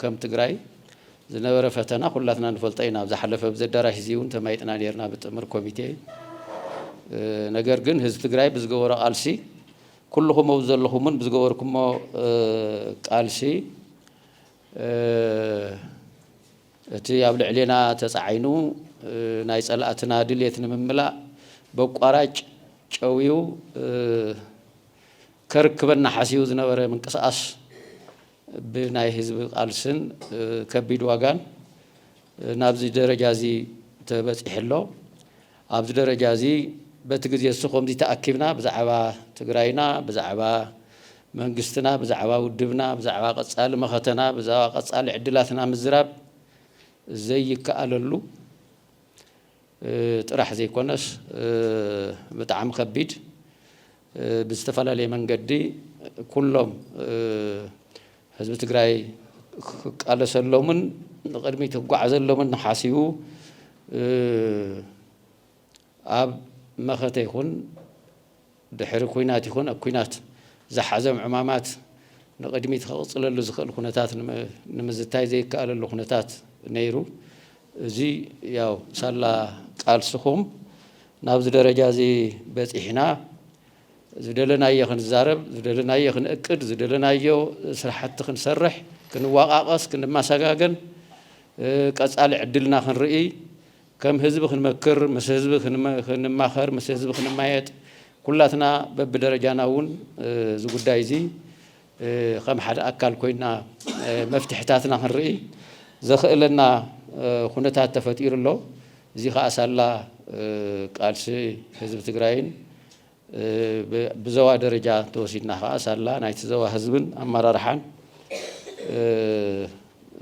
ከም ትግራይ ዝነበረ ፈተና ኩላትና ንፈልጦ ኢና። ኣብ ዝሓለፈ ኣብዚ ኣዳራሽ እዚ እውን ተማይጥና ነርና ብጥምር ኮሚቴ። ነገር ግን ህዝቢ ትግራይ ብዝገበሮ ቃልሲ ኩልኹም ኣብ ዘለኹምን ብዝገበርኩሞ ቃልሲ እቲ ኣብ ልዕሌና ተጻዒኑ ናይ ጸላእትና ድሌት ንምምላእ በቋራጭ ጨውዩ ከርክበና ሓሲቡ ዝነበረ ምንቅስቓስ ብናይ ህዝቢ ቃልስን ከቢድ ዋጋን ናብዚ ደረጃዚ ተበጺሑ ኣሎ። ኣብዚ ደረጃ እዚ በቲ ግዜ እሱ ከምዚ ተኣኪብና ብዛዕባ ትግራይና ብዛዕባ መንግስትና ብዛዕባ ውድብና ብዛዕባ ቀጻሊ መኸተና ብዛባ ቀጻሊ ዕድላትና ምዝራብ ዘይከኣለሉ ጥራሕ ዘይኮነስ ብጣዕሚ ከቢድ ብዝተፈላለየ መንገዲ ኩሎም ህዝቢ ትግራይ ክቃለሰሎምን ንቕድሚት ክጓዓዘሎምን ሓሲቡ ኣብ መኸተ ይኹን ድሕሪ ኩናት ይኹን ኣብ ኩናት ዝሓዘም ዕማማት ንቕድሚት ከቕፅለሉ ዝኽእል ኩነታት ንምዝታይ ዘይከኣለሉ ኩነታት ነይሩ። እዚ ያው ሳላ ቃልስኹም ናብዚ ደረጃ እዚ በፂሕና ዝደለናዮ ክንዛረብ፣ ዝደለናዮ ክንእቅድ፣ ዝደለናዮ ስራሕቲ ክንሰርሕ፣ ክንዋቓቐስ፣ ክንመሰጋገን፣ ቀፃሊ ዕድልና ክንርኢ፣ ከም ህዝቢ ክንመክር፣ ምስ ህዝቢ ክንማኸር፣ ምስ ህዝቢ ክንማየጥ፣ ኩላትና በብደረጃና እውን እዚ ጉዳይ እዚ ከም ሓደ ኣካል ኮይና መፍትሕታትና ክንርኢ ዘኽእለና ኩነታት ተፈጢሩ ኣሎ። እዚ ከኣ ሳላ ቃልሲ ህዝቢ ትግራይን ብዘዋ ደረጃ እንተወሲድና ከኣ ሳላ ናይቲ ዘዋ ህዝብን ኣመራርሓን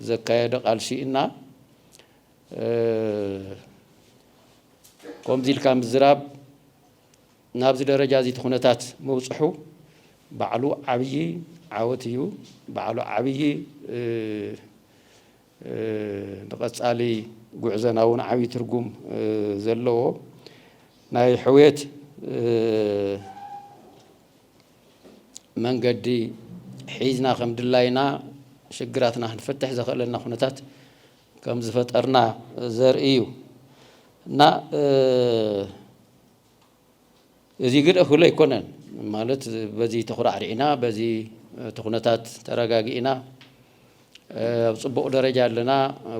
ዘካየዶ ቃልሲ እና ከምዚ ኢልካ ምዝራብ ናብዚ ደረጃ እዚ እቲ ኩነታት ምብፅሑ ባዕሉ ዓብዪ ዓወት እዩ። ባዕሉ ዓብዪ ንቐፃሊ ጉዕዘና እውን ዓብዪ ትርጉም ዘለዎ ናይ ሕውየት መንገዲ ሒዝና ከም ድላይና ሽግራትና ክንፈትሕ ዘኽእለና ኩነታት ከምዝፈጠርና ዘርኢ እዩ እና እዚ ግን እኹል ኣይኮነን ማለት በዚ ተኹራዕሪዕና በዚ እቲ ኩነታት ተረጋጊእና ኣብ ፅቡቕ ደረጃ ኣለና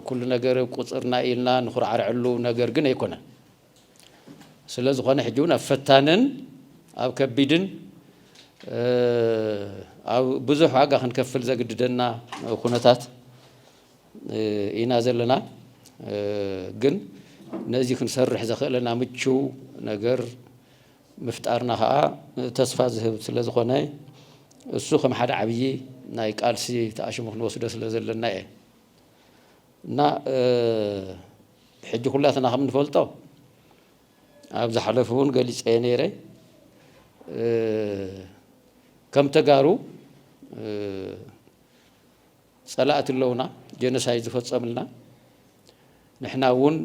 ኩሉ ነገር ቁፅርና ኢልና ንኹራዕርዐሉ ነገር ግን ኣይኮነን ስለ ዝኾነ ሕጂ እውን ኣብ ፈታንን ኣብ ከቢድን ኣብ ብዙሕ ዋጋ ክንከፍል ዘግድደና ኩነታት ኢና ዘለና ግን ነዚ ክንሰርሕ ዘኽእለና ምቹው ነገር ምፍጣርና ከኣ ተስፋ ዝህብ ስለ ዝኾነ እሱ ከም ሓደ ዓብዪ ናይ ቃልሲ ተኣሽሙ ክንወስዶ ስለ ዘለና እየ እና ሕጂ ኩላትና ከም ንፈልጦ ኣብ ዝሓለፉ እውን ገሊፀየ ነይረ ከም ተጋሩ ፀላእቲ ኣለውና ጀኖሳይድ ዝፈፀምልና ንሕና እውን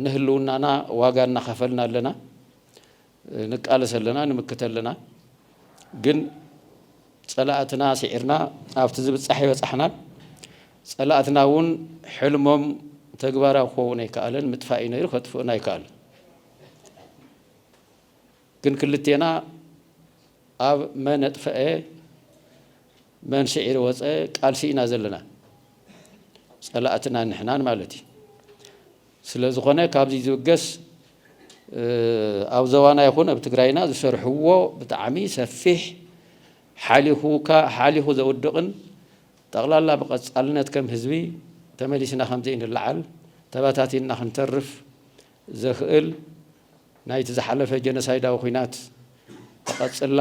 ንህልውናና ዋጋ እናኸፈልና ኣለና ንቃለስ ኣለና ንምክት ኣለና ግን ፀላእትና ስዒርና ኣብቲ ዝብፃሕ ይበፃሕናን ፀላእትና እውን ሕልሞም ተግባራዊ ክኸውን ኣይከኣለን ምጥፋእ እዩ ነይሩ ከጥፍኡና ኣይከኣል ግን ክልቴና ኣብ መን ኣጥፈኤ መን ስዒሩ ወጸ ቃልሲ ኢና ዘለና ጸላእትና ንሕናን ማለት እዩ ስለ ዝኾነ ካብዚ ዝብገስ ኣብ ዘባና ይኹን ኣብ ትግራይና ዝሰርሕዎ ብጣዕሚ ሰፊሕ ሓሊኹካ ሓሊኹ ዘውድቕን ጠቕላላ ብቐጻልነት ከም ህዝቢ ተመሊስና ከምዘይንለዓል ተበታቲንና ክንተርፍ ዘኽእል ናይቲ ዝሓለፈ ጀኖሳይዳዊ ኹናት ተቐፅላ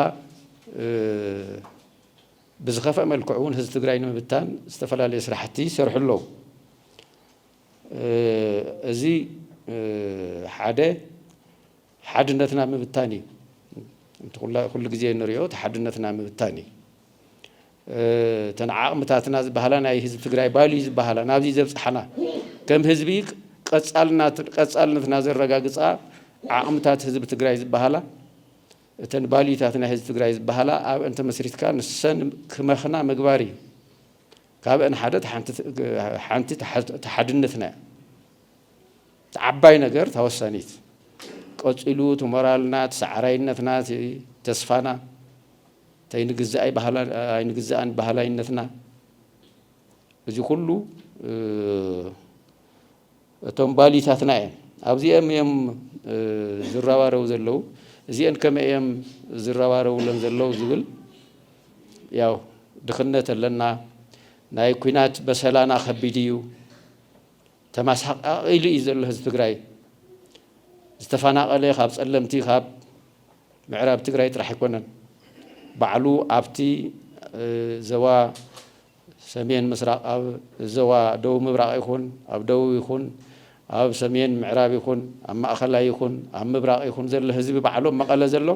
ብዝኸፈእ መልክዑ እውን ህዝቢ ትግራይ ንምብታን ዝተፈላለዩ ስራሕቲ ይሰርሑ ኣለዉ። እዚ ሓደ ሓድነትና ምብታን እዩ። ኩሉ ግዜ ንሪኦ እቲ ሓድነትና ምብታን እዩ። እተን ዓቕምታትና ዝበሃላ ናይ ህዝቢ ትግራይ ባልዩ ዝበሃላ ናብዚ ዘብፅሓና ከም ህዝቢ ቀፃልነትና ዘረጋግፃ ዓቕምታት ህዝቢ ትግራይ ዝበሃላ እተን ባልዩታት ናይ ህዝቢ ትግራይ ዝበሃላ ኣብአን ተመስሪትካ ንሰን ክመኽና ምግባር እዩ። ካብአን ሓደ ሓንቲ ተሓድነትና እያ። ዓባይ ነገር ተወሳኒት ቀፂሉ ትሞራልና፣ ትሰዓራይነትና፣ ተስፋና ተይንግዛእ ኣይንግዛእን በሃላይነትና እዚ ኩሉ እቶም ባሊታትና እዮም ኣብዚኦም እዮም ዝረባረቡ ዘለው እዚአን ከመይ እዮም ዝረባረቡለን ዘለው ዝብል ያው ድኽነት ኣለና ናይ ኩናት በሰላና ከቢድ እዩ ተመሳቃቂሉ እዩ ዘሎ ህዝቢ ትግራይ ዝተፈናቀለ ካብ ፀለምቲ ካብ ምዕራብ ትግራይ ጥራሕ ኣይኮነን ባዕሉ ኣብቲ ዘባ ሰሜን ምስራቅ ኣብ ዘባ ደቡብ ምብራቅ ይኹን ኣብ ደቡብ ይኹን ኣብ ሰሜን ምዕራብ ይኹን ኣብ ማእኸላይ ይኹን ኣብ ምብራቅ ይኹን ዘሎ ህዝቢ ባዕሎም መቐለ ዘሎ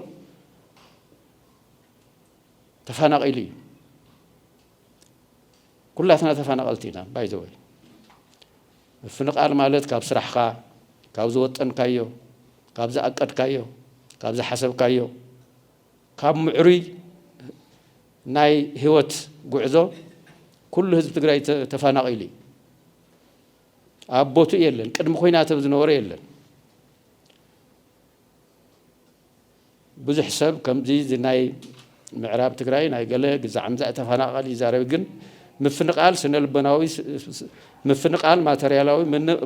ተፋናቂሉ እዩ። ኩላትና ተፋናቀልቲ ኢና ባይ ዘ ወይ ምፍንቃል ማለት ካብ ስራሕካ ካብ ዝወጠንካዮ ካብ ዝኣቀድካዮ ካብ ዝሓሰብካዮ ካብ ምዕሩይ ናይ ህይወት ጉዕዞ ኩሉ ህዝቢ ትግራይ ተፋናቂሉ እዩ ኣብ ቦትኡ የለን ቅድሚ ኮይናት ዝነበሮ የለን ብዙሕ ሰብ ከምዚ እዚ ናይ ምዕራብ ትግራይ ናይ ገለ ግዛዕ ምዛዕ ተፋናቀል ይዛረብ ግን ምፍንቃል ስነልቦናዊ ምፍንቃል ማተርያላዊ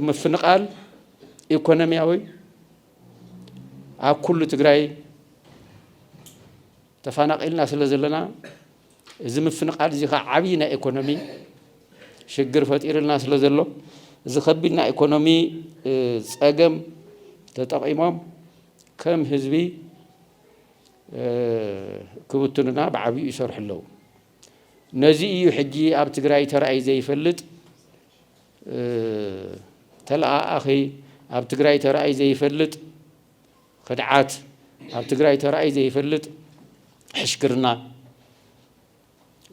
ምፍንቃል ኢኮኖሚያዊ ኣብ ኩሉ ትግራይ ተፋናቂልና ስለ ዘለና እዚ ምፍንቓል እዚ ኸኣ ዓብዪ ናይ ኤኮኖሚ ሽግር ፈጢሩልና ስለ ዘሎ እዚ ከቢድ ናይ ኤኮኖሚ ጸገም ተጠቒሞም ከም ህዝቢ ክብትኑና ብዓብዩ ይሰርሑ ኣለዉ። ነዚ እዩ ሕጂ ኣብ ትግራይ ተራእዩ ዘይፈልጥ ተለኣኣኺ ኣብ ትግራይ ተራእዩ ዘይፈልጥ ኽድዓት ኣብ ትግራይ ተራእዩ ዘይፈልጥ ሕሽክርና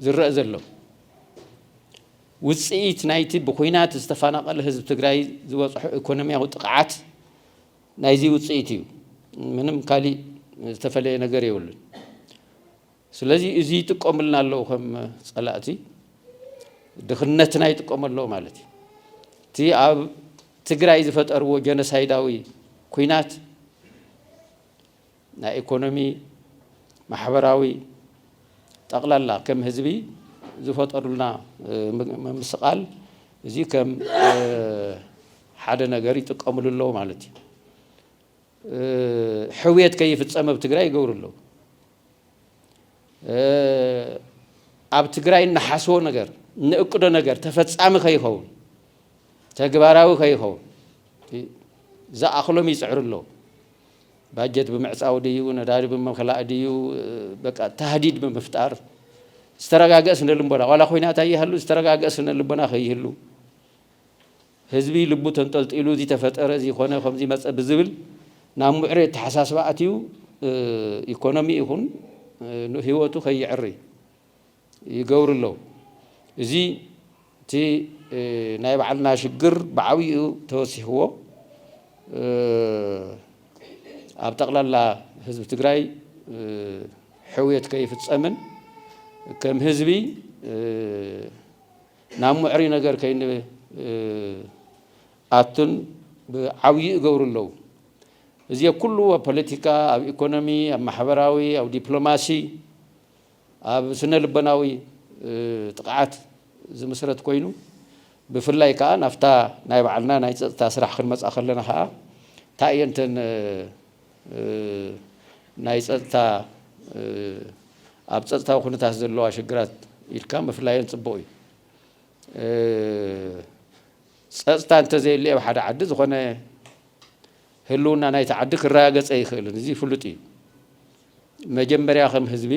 ዝረእ ዘሎ ውፅኢት ናይቲ ብኩናት ዝተፋናቀለ ህዝቢ ትግራይ ዝበፅሖ ኢኮኖሚያዊ ጥቕዓት ናይዚ ውፅኢት እዩ ምንም ካሊእ ዝተፈለየ ነገር የብሉን። ስለዚ እዚ ይጥቀሙልና ኣለዉ ከም ጸላእቲ ድኽነትና ይጥቀሙ ኣለዉ ማለት እዩ። እቲ ኣብ ትግራይ ዝፈጠርዎ ጀኖሳይዳዊ ኩናት ናይ ኢኮኖሚ ማሕበራዊ ጠቕላላ ከም ህዝቢ ዝፈጠሩልና ምምስቓል እዚ ከም ሓደ ነገር ይጥቀምሉ ኣለዉ ማለት እዩ። ሕውየት ከይፍፀም ኣብ ትግራይ ይገብሩ ኣለዉ። ኣብ ትግራይ እንሓስቦ ነገር እንእቅዶ ነገር ተፈፃሚ ከይኸውን ተግባራዊ ከይኸውን ዝኣኽሎም ይፅዕሩ ኣለዉ። ባጀት ብምዕፃው ድዩ ነዳዲ ብምኽላእ ድዩ በቃ ታህዲድ ብምፍጣር ዝተረጋገእ ስነ ልቦና ዋላ ኮይናት ኣይሃሉ ዝተረጋገእ ስነ ልቦና ከይህሉ ህዝቢ ልቡ ተንጠልጢሉ እዚ ተፈጠረ እዚ ኮነ ከምዚ መፀ ብዝብል ናብ ሙዕሬ ኣተሓሳስባ ኣትዩ ኢኮኖሚ ይኹን ህይወቱ ከየዕሪ ይገብሩ ኣለዉ። እዚ እቲ ናይ ባዕልና ሽግር ብዓብይኡ ተወሲኽዎ ኣብ ጠቕላላ ህዝቢ ትግራይ ሕውየት ከይፍፀምን ከም ህዝቢ ናብ ሙዕሪ ነገር ከይንኣቱን ብዓብዩ ይገብሩ ኣለው። እዜ ኩሉ ኣብ ፖለቲካ፣ ኣብ ኢኮኖሚ፣ ኣብ ማሕበራዊ፣ ኣብ ዲፕሎማሲ፣ ኣብ ስነ ልቦናዊ ጥቕዓት ዝምስረት ኮይኑ ብፍላይ ከኣ ናብታ ናይ ባዕልና ናይ ጸጥታ ስራሕ ክንመጽኣ ከለና ከኣ ታይ እየን እተን ናይ ፀጥታ ኣብ ፀጥታዊ ኩነታት ዘለዋ ሽግራት ኢልካ ምፍላየን ፅቡቕ እዩ። ፀፅታ እንተዘየለ ኣብ ሓደ ዓዲ ዝኾነ ህልውና ናይቲ ዓዲ ክረጋገፀ ይኽእልን እዚ ፍሉጥ እዩ። መጀመርያ ከም ህዝቢ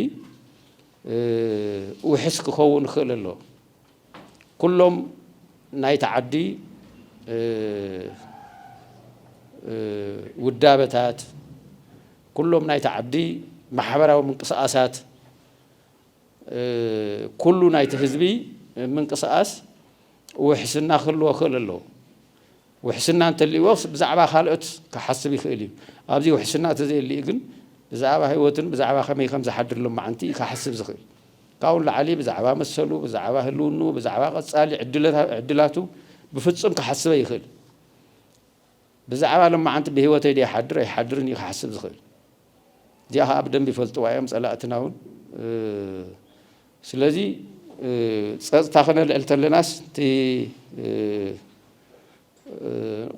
ውሕስ ክኸውን ክኽእል ኣለዎ። ኩሎም ናይቲ ዓዲ ውዳበታት፣ ኩሎም ናይቲ ዓዲ ማሕበራዊ ምንቅስቓሳት፣ ኩሉ ናይቲ ህዝቢ ምንቅስቓስ ውሕስና ክህልዎ ክእል ኣለዎ። ውሕስና እንተልይዎ ብዛዕባ ካልኦት ክሓስብ ይኽእል እዩ። ኣብዚ ውሕስና ተዘየልዩ ግን ብዛዕባ ህይወቱን ብዛዕባ ከመይ ከም ዝሓድር ሎማዓንቲ እዩ ክሓስብ ዝኽእል። ካብኡ ንላዕሊ ብዛዕባ መሰሉ፣ ብዛዕባ ህልውንኡ፣ ብዛዕባ ቀጻሊ ዕድላቱ ብፍጹም ክሓስብ ኣይኽእልን። ብዛዕባ ሎማዓንቲ ብህይወተይ ድየ ይሓድር ኣይሓድርን እዩ ክሓስብ ዝኽእል። እዚኣ ከኣ ብደንቢ ይፈልጥዋ እዮም ጸላእትና እውን። ስለዚ ጸጥታ ክነልዕል ተለናስ እቲ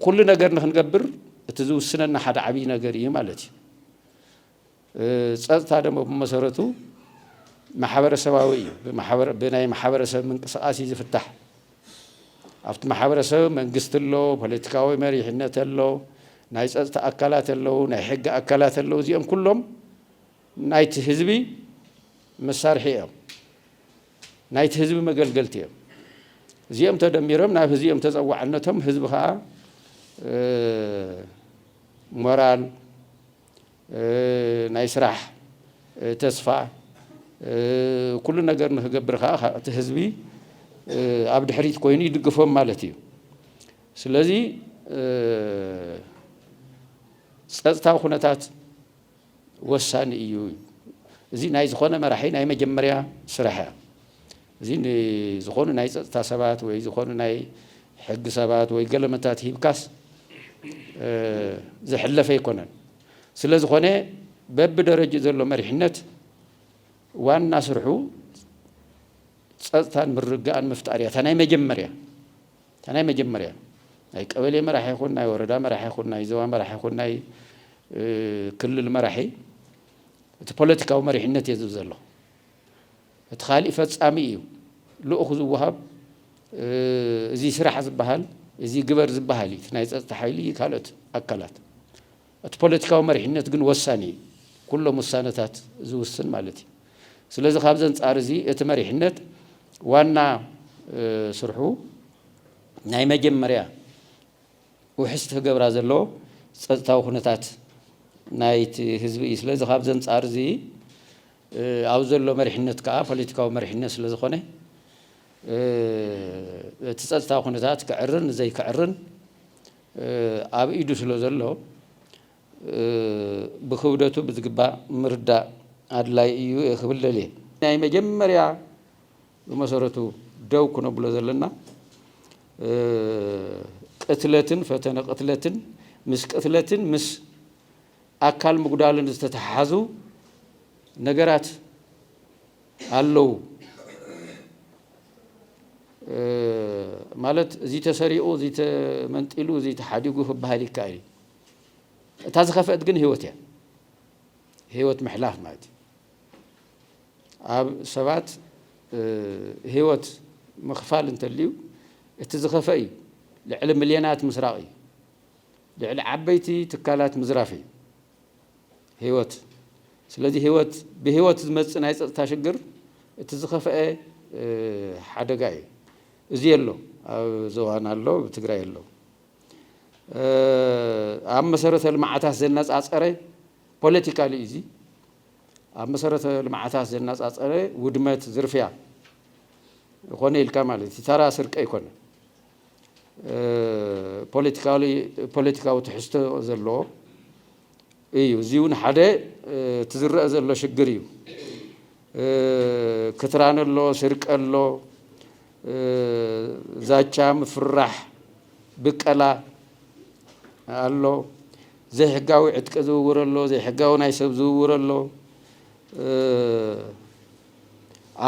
ኩሉ ነገር ንክንገብር እቲ ዝውስነና ሓደ ዓብይ ነገር እዩ ማለት እዩ። ፀፅታ ደሞ ብመሰረቱ ማሕበረሰባዊ እዩ። ብናይ ማሕበረሰብ ምንቅስቃስ እዩ ዝፍታሕ። ኣብቲ ማሕበረሰብ መንግስቲ ኣሎ፣ ፖለቲካዊ መሪሕነት ኣሎ፣ ናይ ፀፅታ ኣካላት ኣለዉ፣ ናይ ሕጊ ኣካላት ኣለዉ። እዚኦም ኩሎም ናይቲ ህዝቢ መሳርሒ እዮም። ናይቲ ህዝቢ መገልገልቲ እዮም። እዚኦም ተደሚሮም ናብ ህዝቢ እዮም ተፀዋዕነቶም። ህዝቢ ከዓ ሞራል ናይ ስራሕ ተስፋ ኩሉ ነገር ንክገብር ከዓ እቲ ህዝቢ ኣብ ድሕሪት ኮይኑ ይድግፎም ማለት እዩ ስለዚ ፀፅታዊ ኩነታት ወሳኒ እዩ እዚ ናይ ዝኾነ መራሒ ናይ መጀመርያ ስራሕ እያ እዚ ንዝኾኑ ናይ ፀፅታ ሰባት ወይ ዝኾኑ ናይ ሕጊ ሰባት ወይ ገለ መታት ሂብካስ ዝሕለፍ ኣይኮነን። ስለዝኾነ በቢደረጅኡ ዘሎ መሪሕነት ዋና ስርሑ ፀፅታን ምርግጋእን ምፍጣር እያ እታ ናይ መጀመርያ እታ ናይ መጀመርያ ናይ ቀበሌ መራሒ ይኹን ናይ ወረዳ መራሒ ይኹን ናይ ዞባ መራሒ ይኹን ናይ ክልል መራሒ እቲ ፖለቲካዊ መሪሕነት እየ ዝብ ዘሎ። እቲ ካሊእ ፈፃሚ እዩ ልኡኽ ዝወሃብ እዙይ ስራሕ ዝበሃል እዙይ ግበር ዝበሃል እዩ እቲ ናይ ፀፅታ ሓይሊ ካልኦት ኣካላት እቲ ፖለቲካዊ መሪሕነት ግን ወሳኒ እዩ ኩሎም ውሳነታት ዝውስን ማለት እዩ ስለዚ ካብዚ ኣንፃር እዚ እቲ መሪሕነት ዋና ስርሑ ናይ መጀመርያ ውሕስቲ ክገብራ ዘለዎ ፀፅታዊ ኩነታት ናይቲ ህዝቢ እዩ ስለዚ ካብዚ ኣንፃር እዚ ኣብዚ ዘሎ መሪሕነት ከኣ ፖለቲካዊ መሪሕነት ስለ ዝኾነ እቲ ጸጥታዊ ኩነታት ክዕርን ንዘይክዕርን ኣብ ኢዱ ስለ ዘሎ ብክብደቱ ብዝግባእ ምርዳእ ኣድላይ ኢዩ ኢየ ክብል ደልየ። ናይ መጀመርያ ብመሰረቱ ደው ክነብሎ ዘለና ቅትለትን ፈተነ ቅትለትን ምስ ቅትለትን ምስ ኣካል ምጉዳልን ዝተተሓሓዙ ነገራት ኣለው ማለት እዚ ተሰሪቑ እዚ ተመንጢሉ እዚ ተሓዲጉ ክበሃል ይከኣል እዩ እታ ዝኸፍአት ግን ህይወት እያ ህይወት ምሕላፍ ማለት እዩ ኣብ ሰባት ህይወት ምኽፋል እንተልዩ እቲ ዝኸፈ እዩ ልዕሊ ሚልዮናት ምስራቕ እዩ ልዕሊ ዓበይቲ ትካላት ምዝራፍ እዩ ህይወት። ስለዚ ህይወት ብህይወት ዝመጽእ ናይ ጸጥታ ሽግር እቲ ዝኸፍኤ ሓደጋ እዩ። እዚ ኣሎ ኣብ ዞባና ኣሎ ኣብ ትግራይ ኣሎ። ኣብ መሰረተ ልምዓታት ዘነጻጸረ ፖለቲካሊ እዩ እዚ ኣብ መሰረተ ልምዓታት ዘነጻጸረ ውድመት ዝርፍያ ኾነ ኢልካ ማለት እዩ ተራ ስርቂ ኣይኮነን። ፖለቲካዊ ትሕዝቶ ዘለዎ እዩ። እዚ እውን ሓደ እቲ ዝረአ ዘሎ ሽግር እዩ። ክትራን ኣሎ፣ ስርቂ ኣሎ፣ ዛቻ፣ ምፍርራሕ፣ ብቀላ ኣሎ፣ ዘይሕጋዊ ዕጥቂ ዝውውር ኣሎ፣ ዘይሕጋዊ ናይ ሰብ ዝውውር ኣሎ።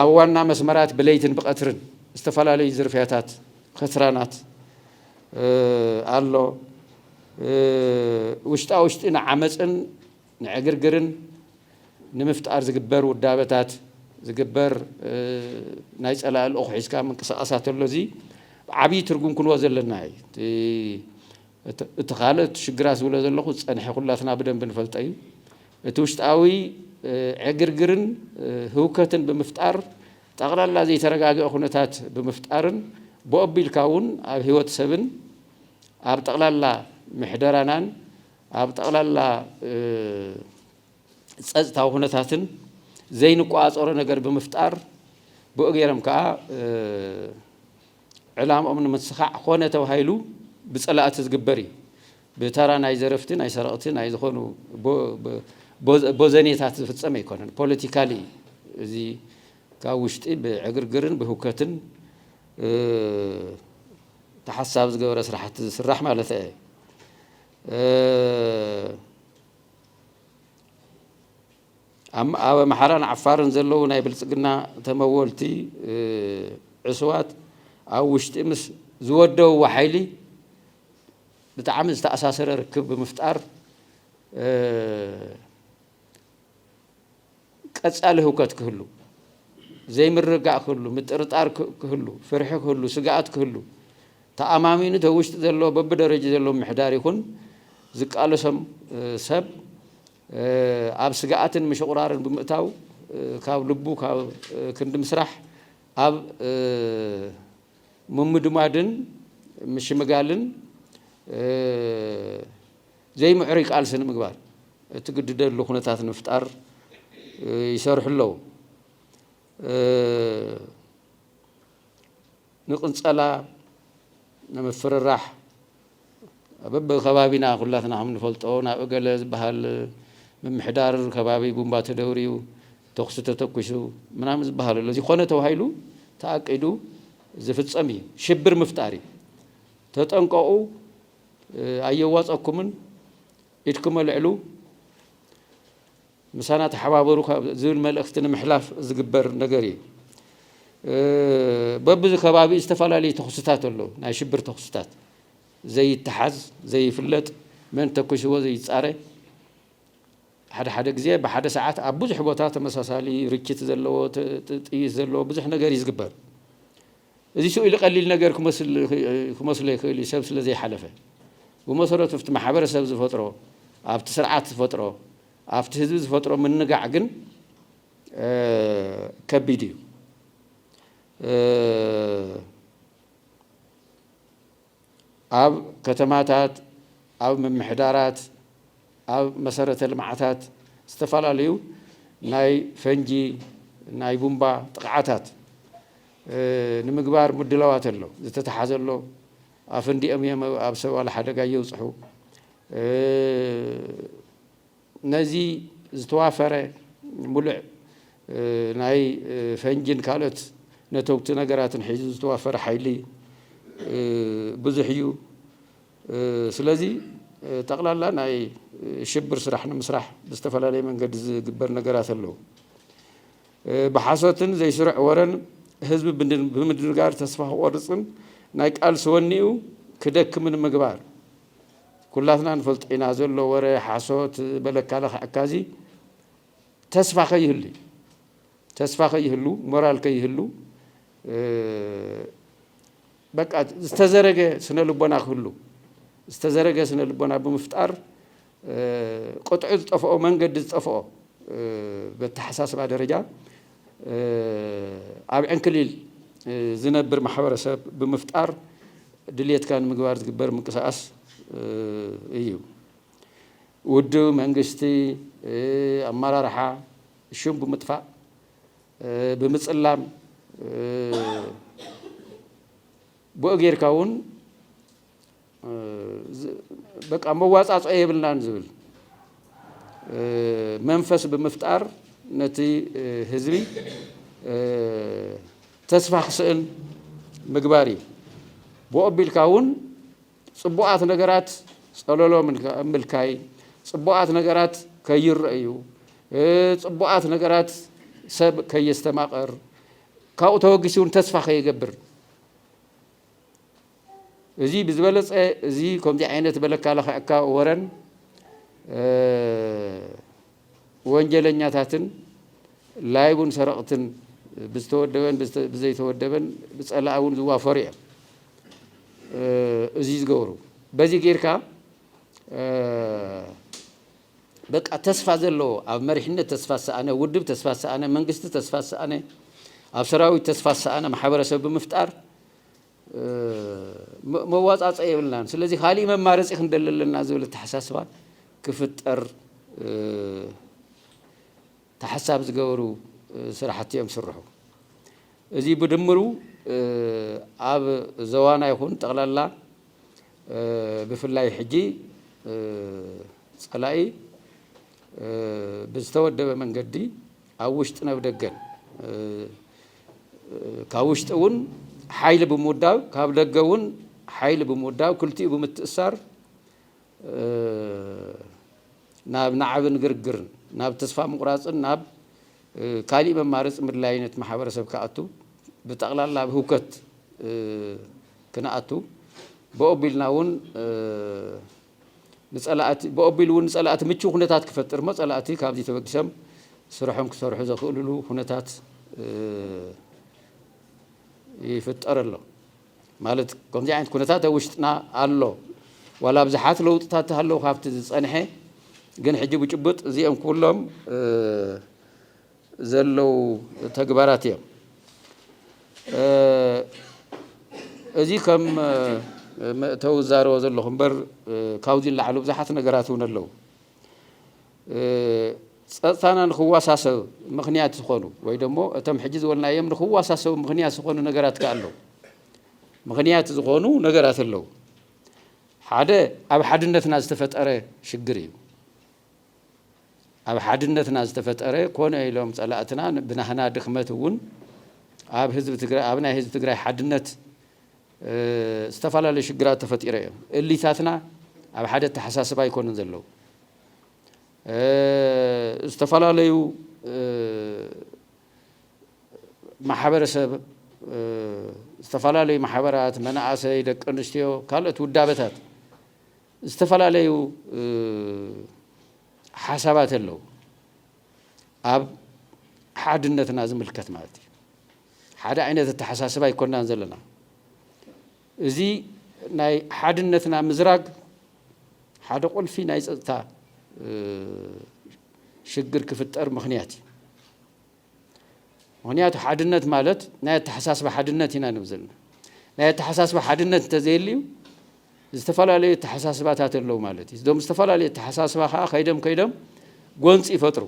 ኣብ ዋና መስመራት ብለይትን ብቐትርን ዝተፈላለዩ ዝርፍያታት ከትራናት ኣሎ። ውሽጣ ውሽጢ ንዓመፅን ንዕግርግርን ንምፍጣር ዝግበር ውዳበታት ዝግበር ናይ ፀላኢ ልኡኽ ሒዝካ ምንቅስቓሳት ኣሎ። እዚ ዓብዪ ትርጉም ክንዎ ዘለና እዩ። እቲ ካልእ እቲ ሽግራት ዝብሎ ዘለኹ ዝፀንሐ ኩላትና ብደንቢ ንፈልጦ እዩ። እቲ ውሽጣዊ ዕግርግርን ህውከትን ብምፍጣር ጠቕላላ ዘይተረጋገ ኩነታት ብምፍጣርን ብኡ ኣቢልካ እውን ኣብ ህይወት ሰብን ኣብ ጠቕላላ ምሕደራናን ኣብ ጠቕላላ ፀፅታዊ ኩነታትን ዘይንቆፃፀሮ ነገር ብምፍጣር ብኡ ገይሮም ከዓ ዕላምኦም ንምስኻዕ ኮነ ተባሂሉ ብፀላእቲ ዝግበር እዩ። ብተራ ናይ ዘረፍቲ ናይ ሰረቕቲ ናይ ዝኾኑ ቦዘኔታት ዝፍጸም ኣይኮነን ፖለቲካሊ እዩ እዚ ካብ ውሽጢ ብዕግርግርን ብህውከትን ተሓሳቢ ዝገበረ ስራሕቲ ዝስራሕ ማለት እየ ኣብ ኣምሓራን ዓፋርን ዘለዉ ናይ ብልፅግና ተመወልቲ ዕስዋት ኣብ ውሽጢ ምስ ዝወደውዎ ሓይሊ ብጣዕሚ ዝተኣሳሰረ ርክብ ብምፍጣር ቀፃሊ ህውከት ክህሉ፣ ዘይምርግጋእ ክህሉ፣ ምጥርጣር ክህሉ፣ ፍርሒ ክህሉ፣ ስግኣት ክህሉ፣ ተኣማሚኑ እቲ ውሽጢ ዘሎ በብደረጅ ዘሎ ምሕዳር ይኹን ዝቃለሶም ሰብ ኣብ ስግኣትን ምሽቑራርን ብምእታው ካብ ልቡ ካብ ክንዲ ምስራሕ ኣብ ምምድማድን ምሽምጋልን ዘይምዕሩይ ቃልሲ ንምግባር እትግድደሉ ኩነታት ንምፍጣር ይሰርሑ ኣለዉ። ንቕንፀላ፣ ንምፍርራሕ፣ በብከባቢና ኩላትና ከምንፈልጦ ናብ እገለ ዝበሃል ምምሕዳር ከባቢ ቡምባ ተደውርዩ፣ ተኹሲ ተተኩሱ ምናምን ዝበሃል ኣሎ። እዚ ኮነ ተባሂሉ ተኣቂዱ ዝፍጸም እዩ። ሽብር ምፍጣር እዩ። ተጠንቀቑ፣ ኣየዋጸኩምን፣ ኢድኩም ኣልዕሉ። ምሳና ተሓባበሩ ካብ ዝብል መልእኽቲ ንምሕላፍ ዝግበር ነገር እዩ። በብዚ ከባቢኡ ዝተፈላለዩ ተኹስታት ኣለዉ። ናይ ሽብር ተኹስታት ዘይተሓዝ ዘይፍለጥ መን ተኩስዎ ዘይፃረ ሓደ ሓደ ግዜ ብሓደ ሰዓት ኣብ ብዙሕ ቦታ ተመሳሳሊ ርችት ዘለዎ ጥይት ዘለዎ ብዙሕ ነገር እዩ ዝግበር። እዚ ስእሊ ቀሊል ነገር ክመስሎ ይኽእል እዩ፣ ሰብ ስለ ዘይሓለፈ። ብመሰረቱ ኣብቲ ማሕበረሰብ ዝፈጥሮ፣ ኣብቲ ስርዓት ዝፈጥሮ፣ ኣብቲ ህዝቢ ዝፈጥሮ ምንጋዕ ግን ከቢድ እዩ። ኣብ ከተማታት፣ ኣብ ምምሕዳራት፣ ኣብ መሰረተ ልምዓታት ዝተፈላለዩ ናይ ፈንጂ ናይ ቡምባ ጥቕዓታት ንምግባር ምድላዋት ኣሎ። ዝተተሓዘ ኣሎ። ኣፈንዲኦም እዮም ኣብ ሰብ ዋላ ሓደጋ የብፅሑ። ነዚ ዝተዋፈረ ሙሉዕ ናይ ፈንጂን ካልኦት ነተጉቲ ነገራትን ሒዙ ዝተዋፈረ ሓይሊ ብዙሕ እዩ። ስለዚ ጠቕላላ ናይ ሽብር ስራሕ ንምስራሕ ብዝተፈላለየ መንገዲ ዝግበር ነገራት ኣለዉ። ብሓሶትን ዘይስሩዕ ወረን ህዝቢ ብምድንጋር ተስፋ ክቖርፅን ናይ ቃልሲ ወኒኡ ክደክምን ምግባር ኩላትና ንፈልጦ ኢና ዘሎ ወረ ሓሶት በለካ ለኽዐካ እዚ ተስፋ ከይህሉ ተስፋ ከይህሉ ሞራል ከይህሉ በቃ ዝተዘረገ ስነ ልቦና ክህሉ ዝተዘረገ ስነ ልቦና ብምፍጣር ቅጥዑ ዝጠፍኦ መንገዲ ዝጠፍኦ በተሓሳስባ ደረጃ ኣብ ዕንክሊል ዝነብር ማሕበረሰብ ብምፍጣር ድልየትካ ንምግባር ዝግበር ምንቅስቓስ እዩ። ውድብ፣ መንግስቲ፣ ኣመራርሓ ሹም ብምጥፋእ፣ ብምፅላም ብኡ ጌርካ እውን በቃ መዋፃፅኦ የብልናን ዝብል መንፈስ ብምፍጣር ነቲ ህዝቢ ተስፋ ክስእል ምግባር እዩ ብኡ ኣቢልካ እውን ፅቡቓት ነገራት ፀለሎ ምልካይ ፅቡቓት ነገራት ከይረአዩ ፅቡቓት ነገራት ሰብ ከየስተማቐር ካብኡ ተወጊሱ እውን ተስፋ ከይገብር እዚ ብዝበለፀ እዚ ከምዚ ዓይነት በለካ ለኽዐካ ወረን ወንጀለኛታትን ላይቡን ሰረቕትን ብዝተወደበን ብዘይተወደበን ብፀላኢ እውን ዝዋፈሩ እዮም እዚ ዝገብሩ በዚ ጌርካ በቃ ተስፋ ዘለዎ ኣብ መሪሕነት ተስፋ ዝሰኣነ ውድብ ተስፋ ዝሰኣነ መንግስቲ ተስፋ ዝሰኣነ ኣብ ሰራዊት ተስፋ ዝሰኣነ ማሕበረሰብ ብምፍጣር መዋፃፀኢ የብልናን ስለዚ ካሊእ መማረፂ ክንደሊ ኣለና ዝብል ኣተሓሳስባ ክፍጠር ተሓሳብ ዝገበሩ ስራሕቲ እዮም ስርሑ። እዚ ብድምሩ ኣብ ዘዋና ይኹን ጠቕላላ ብፍላይ ሕጂ ፀላኢ ብዝተወደበ መንገዲ ኣብ ውሽጥን ኣብ ደገን ካብ ውሽጢ እውን ሓይሊ ብምውዳብ ካብ ደገ እውን ሓይሊ ብምውዳብ ክልቲኡ ብምትእሳር ናብ ናዕብን ግርግርን ናብ ተስፋ ምቑራፅን ናብ ካሊእ መማረፂ ምድላይ ነቲ ማሕበረሰብ ክኣቱ ብጠቕላላ ኣብ ህውከት ክንኣቱ ብኦቢልና እውን ንፀላእቲ ብኦቢሉ እውን ንፀላእቲ ምችው ኩነታት ክፈጥር እሞ ፀላእቲ ካብዚ ተበጊሶም ስርሖም ክሰርሑ ዘኽእልሉ ኩነታት ይፍጠር ኣሎ ማለት ከምዚ ዓይነት ኩነታት ኣብ ውሽጥና ኣሎ ዋላ ብዙሓት ለውጥታት ተሃለዉ ካብቲ ዝፀንሐ ግን ሕጂ ብጭቡጥ እዚኦም ኩሎም ዘለዉ ተግባራት እዮም። እዚ ከም መእተዊ ዛረቦ ዘለኹ እምበር ካብዚ ንላዕሊ ብዙሓት ነገራት እውን ኣለዉ። ፀፅታና ንክዋሳሰብ ምክንያት ዝኾኑ ወይ ደሞ እቶም ሕጂ ዝበልናዮም ንክዋሳሰቡ ምክንያት ዝኾኑ ነገራት ከ ኣለዉ። ምክንያት ዝኾኑ ነገራት ኣለዉ። ሓደ ኣብ ሓድነትና ዝተፈጠረ ሽግር እዩ። ኣብ ሓድነትና ዝተፈጠረ ኮነ ኢሎም ፀላእትና ብናህና ድኽመት እውን ኣብ ህዝቢ ትግራይ ኣብ ናይ ህዝቢ ትግራይ ሓድነት ዝተፈላለዩ ሽግራት ተፈጢረ እዮም። እሊታትና ኣብ ሓደ ኣተሓሳስብ ኣይኮኑን ዘለዉ ዝተፈላለዩ ማሕበረሰብ ዝተፈላለዩ ማሕበራት መናእሰይ፣ ደቂ ኣንስትዮ ካልኦት ውዳበታት ዝተፈላለዩ ሓሳባት ኣለው ኣብ ሓድነትና ዝምልከት ማለት እዩ ሓደ ዓይነት ኣተሓሳስባ ኣይኮናን ዘለና እዚ ናይ ሓድነትና ምዝራግ ሓደ ቁልፊ ናይ ፀጥታ ሽግር ክፍጠር ምክንያት እዩ ምክንያቱ ሓድነት ማለት ናይ ኣተሓሳስባ ሓድነት ኢና ንብ ዘለና ናይ ኣተሓሳስባ ሓድነት እንተዘየልዩ ዝተፈላለዩ ኣተሓሳስባታት ኣለዉ ማለት እዩ እዞም ዝተፈላለዩ ኣተሓሳስባ ከዓ ከይደም ከይደም ጎንፂ ይፈጥሩ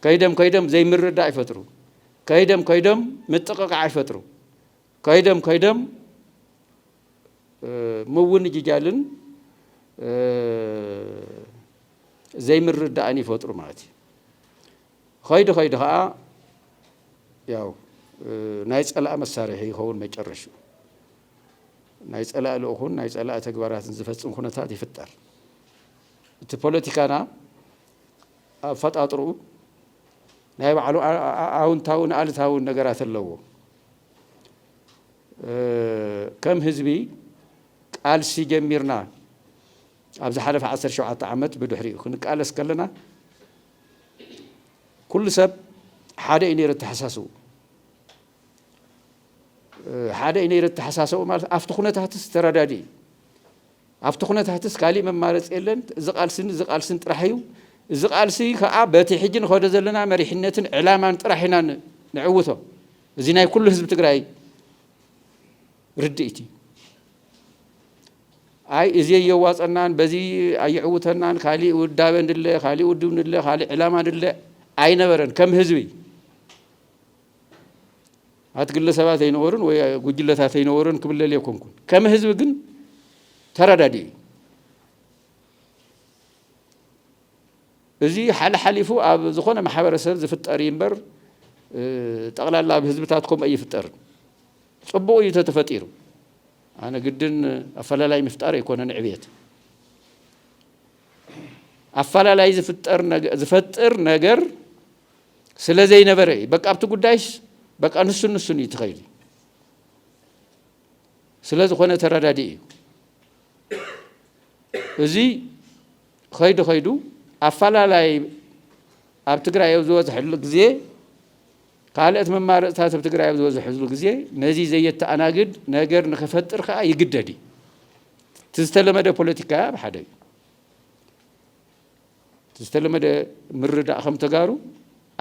ከይደም ከይደም ዘይምርዳእ ይፈጥሩ ከይደም ከይደም ምጥቕቃዕ ይፈጥሩ ከይደም ከይደም ምውንጅጃልን ዘይምርዳእን ይፈጥሩ ማለት እዩ ኸይዲ ኸይዲ ኸኣ ያው ናይ ጸላኢ መሳርሒ ይኸውን መጨረሽኡ። ናይ ጸላኢ ልኡኹን ናይ ጸላኢ ተግባራትን ዝፈጽም ኩነታት ይፍጠር። እቲ ፖለቲካና ኣፈጣጥርኡ ናይ ባዕሉ ኣውንታውን ኣልታውን ነገራት ኣለዎ። ከም ህዝቢ ቃልሲ ጀሚርና ኣብ ዝሓለፈ 17 ዓመት ብድሕሪኡ ክንቃለስ ከለና ኩሉ ሰብ ሓደ እዩ ነይሩ ኣተሓሳስቡ ሓደ እዩ ነይሩ ኣተሓሳሰቡ ማለት ኣብቲ ኩነታትስ ተረዳዲ እዩ ኣብቲ ኩነታትስ ካሊእ መማረፂ የለን እዚ ቃልስን እዚ ቃልስን ጥራሕ እዩ እዚ ቃልሲ ከዓ በቲ ሕጂ ንኸዶ ዘለና መሪሕነትን ዕላማን ጥራሕ ኢና ንዕውቶ እዚ ናይ ኩሉ ህዝቢ ትግራይ ርድኢት እዩ ኣይ እዚ ኣየዋፀናን በዚ ኣየዕውተናን ካሊእ ውዳበ ንድለ ካሊእ ውድብ ንድለ ካሊእ ዕላማ ንድለ ኣይነበረን ከም ህዝቢ ኣቲ ግለሰባት ኣይነበሩን ወይ ጉጅለታት ኣይነበሩን ክብለል የኮንኩን ከም ህዝቢ ግን ተረዳዲኡ እዚ ሓልሓሊፉ ኣብ ዝኾነ ማሕበረሰብ ዝፍጠር እምበር ጠቕላላ ኣብ ህዝብታት ከምኡ ኣይፍጠርን ጽቡቅ እዩ ተተፈጢሩ ኣነ ግድን ኣፈላላይ ምፍጣር ኣይኮነን ዕብየት ኣፈላላይ ዝፈጥር ነገር ስለ ዘይነበረ እዩ በቃ ኣብቲ ጉዳይስ በቃ ንሱን ንሱን እዩ ትኸይል ስለ ዝኾነ ተረዳዲ እዩ እዚ ኸይዱ ኸይዱ ኣፈላላይ ኣብ ትግራይ ኣብ ዝበዝሐሉ ግዜ ካልእት መማረፅታት ኣብ ትግራይ ኣብ ዝበዘሕዝሉ ግዜ ነዚ ዘየተኣናግድ ነገር ንኸፈጥር ከኣ ይግደድ እዩ። እቲ ዝተለመደ ፖለቲካ ኣብ ሓደ እዩ። እቲ ዝተለመደ ምርዳእ ከም ተጋሩ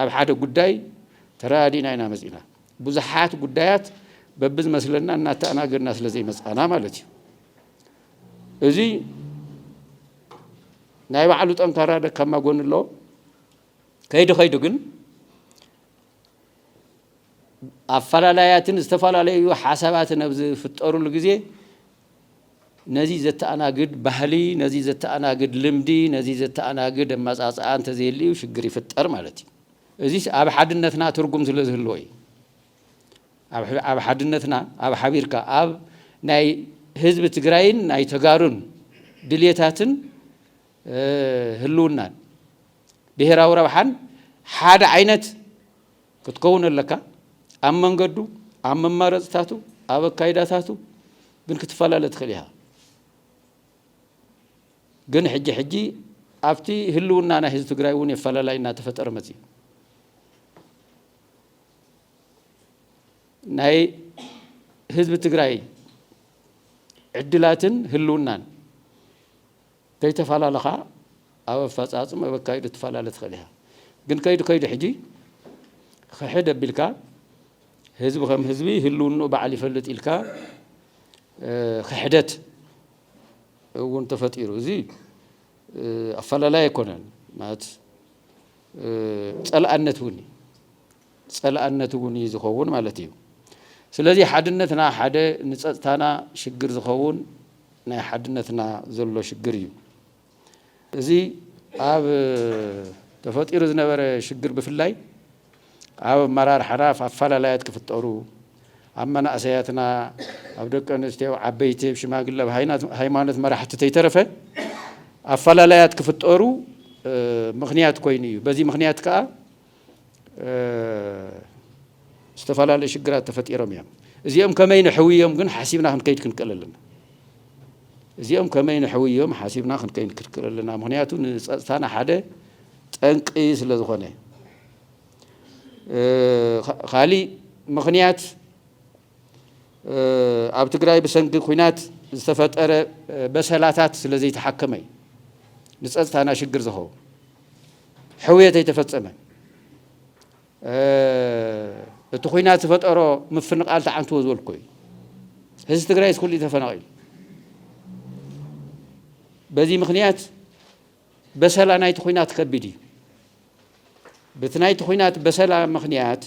ኣብ ሓደ ጉዳይ ተረዳዲእና ኢና መፂእና። ብዙሓት ጉዳያት በብዝመስለና እናተኣናገድና ስለ ዘይመፃእና ማለት እዩ። እዚ ናይ ባዕሉ ጠንካራ ደካማ ጎኒ ኣለዎ። ከይዱ ከይዱ ግን ኣፈላላያትን ዝተፈላለዩ ሓሳባትን ኣብ ዝፍጠሩሉ ግዜ ነዚ ዘተኣናግድ ባህሊ፣ ነዚ ዘተኣናግድ ልምዲ፣ ነዚ ዘተኣናግድ ኣመፃፅኣ እንተዘየልዩ ሽግር ይፍጠር ማለት እዩ። እዚስ ኣብ ሓድነትና ትርጉም ስለ ዝህልዎ እዩ። ኣብ ሓድነትና ኣብ ሓቢርካ ኣብ ናይ ህዝቢ ትግራይን ናይ ተጋሩን ድልየታትን ህልውናን ብሄራዊ ረብሓን ሓደ ዓይነት ክትከውን ኣለካ። ኣብ መንገዱ፣ ኣብ መማረፅታቱ፣ ኣብ ኣካይዳታቱ ግን ክትፈላለ ትኽእል ኢኻ። ግን ሕጂ ሕጂ ኣብቲ ህልውና ናይ ህዝቢ ትግራይ እውን የፈላላይ እናተፈጠረ መፅዩ ናይ ህዝቢ ትግራይ ዕድላትን ህልውናን ከይተፈላለኻ ኣብ ኣፈፃፅም ኣብ ኣካይዱ ትፈላለ ትኽእል ኢኻ ግን ከይዱ ከይዱ ሕጂ ኽሕድ ኣቢልካ ህዝቢ ከም ህዝቢ ህልውንኡ በዓል ይፈልጥ ኢልካ ኽሕደት እውን ተፈጢሩ እዚ ኣፈላላይ ኣይኮነን ማለት ፀላእነት እውን እዩ ፀላእነት እውን እዩ ዝኸውን ማለት እዩ። ስለዚ ሓድነትና ሓደ ንፀጥታና ሽግር ዝኸውን ናይ ሓድነትና ዘሎ ሽግር እዩ። እዚ ኣብ ተፈጢሩ ዝነበረ ሽግር ብፍላይ ኣብ ኣመራርሓና ኣፈላላያት ክፍጠሩ ኣብ መናእሰያትና ኣብ ደቂ ኣንስትዮ ኣብ ዓበይቲ ኣብ ሽማግለ ኣብ ሃይማኖት መራሕቲ ተይተረፈ ኣፈላላያት ክፍጠሩ ምክንያት ኮይኑ እዩ። በዚ ምክንያት ከዓ ዝተፈላለዩ ሽግራት ተፈጢሮም እዮም። እዚኦም ከመይ ንሕውዮም ግን ሓሲብና ክንከይድ ክንክእል ኣለና። እዚኦም ከመይ ንሕውዮም ሓሲብና ክንከይድ ክንክእል ኣለና። ምክንያቱ ንፀፅታና ሓደ ጠንቂ ስለ ዝኾነ ካሊእ ምክንያት ኣብ ትግራይ ብሰንኪ ኲናት ዝተፈጠረ በሰላታት ስለ ዘይተሓከመ እዩ ንፀፅታና ሽግር ዝኸውን ሕውየት ኣይተፈፀመን እቲ ኩናት ዝፈጠሮ ምፍንቓል ተዓንትዎ ዝበልኩ እዩ ህዝቢ ትግራይ ስኩሉ ተፈናቒሉ በዚ ምክንያት በሰላ ናይቲ ኹናት ከቢድ እዩ። በቲ ናይቲ ኹናት በሰላ ምኽንያት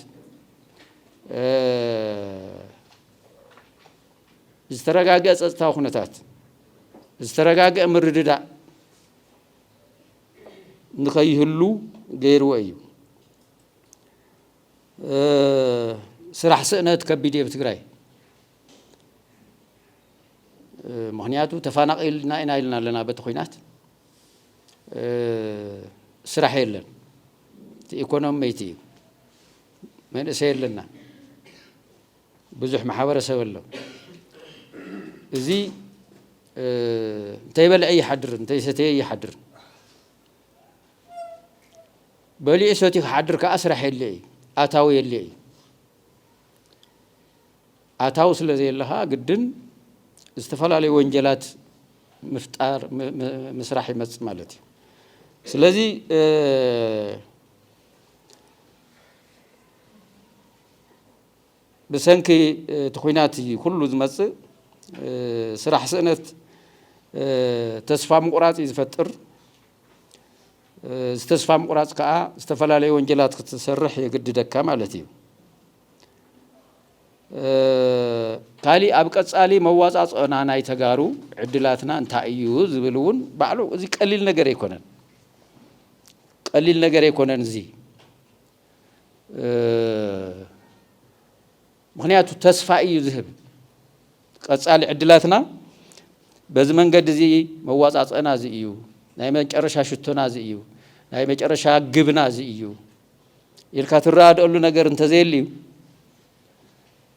ዝተረጋገ ጸጥታዊ ኩነታት ዝተረጋገ ምርድዳእ ንኸይህሉ ገይርዎ እዩ። ስራሕ ስእነት ከቢድ እየ ብትግራይ ምኽንያቱ ተፋናቒልና ኢና ኢልና ኣለና በቲ ኹናት ስራሕ የለን እቲ ኢኮኖሚ መይቲ እዩ መንእሰይ ኣለና ብዙሕ ማሕበረሰብ ኣሎ እዚ እንተይበልዐ ይሓድርን እንተይሰተየ ይሓድርን በሊዑ ሰትዩ ክሓድር ከዓ ስራሕ የለ እዩ ኣታዊ የለ እዩ ኣታዊ ስለ ዘየለ ከኣ ግድን ዝተፈላለዩ ወንጀላት ምፍጣር ምስራሕ ይመጽእ ማለት እዩ። ስለዚ ብሰንኪ እቲ ኩናት እዩ ኩሉ ዝመጽእ ስራሕ ስእነት ተስፋ ምቑራጽ እዩ ዝፈጥር። እዚ ተስፋ ምቑራጽ ከዓ ዝተፈላለዩ ወንጀላት ክትሰርሕ የግድደካ ማለት እዩ። ካሊእ ኣብ ቀፃሊ መዋፃፅኦና ናይ ተጋሩ ዕድላትና እንታይ እዩ ዝብል እውን ባዕሉ እዚ ቀሊል ነገር ኣይኮነን ቀሊል ነገር ኣይኮነን እዚ ምክንያቱ ተስፋ እዩ ዝህብ ቀፃሊ ዕድላትና በዚ መንገዲ እዚ መዋፃፅኦና እዚ እዩ ናይ መጨረሻ ሽቶና እዚ እዩ ናይ መጨረሻ ግብና እዚ እዩ ኢልካ ትረኣደኣሉ ነገር እንተዘየልዩ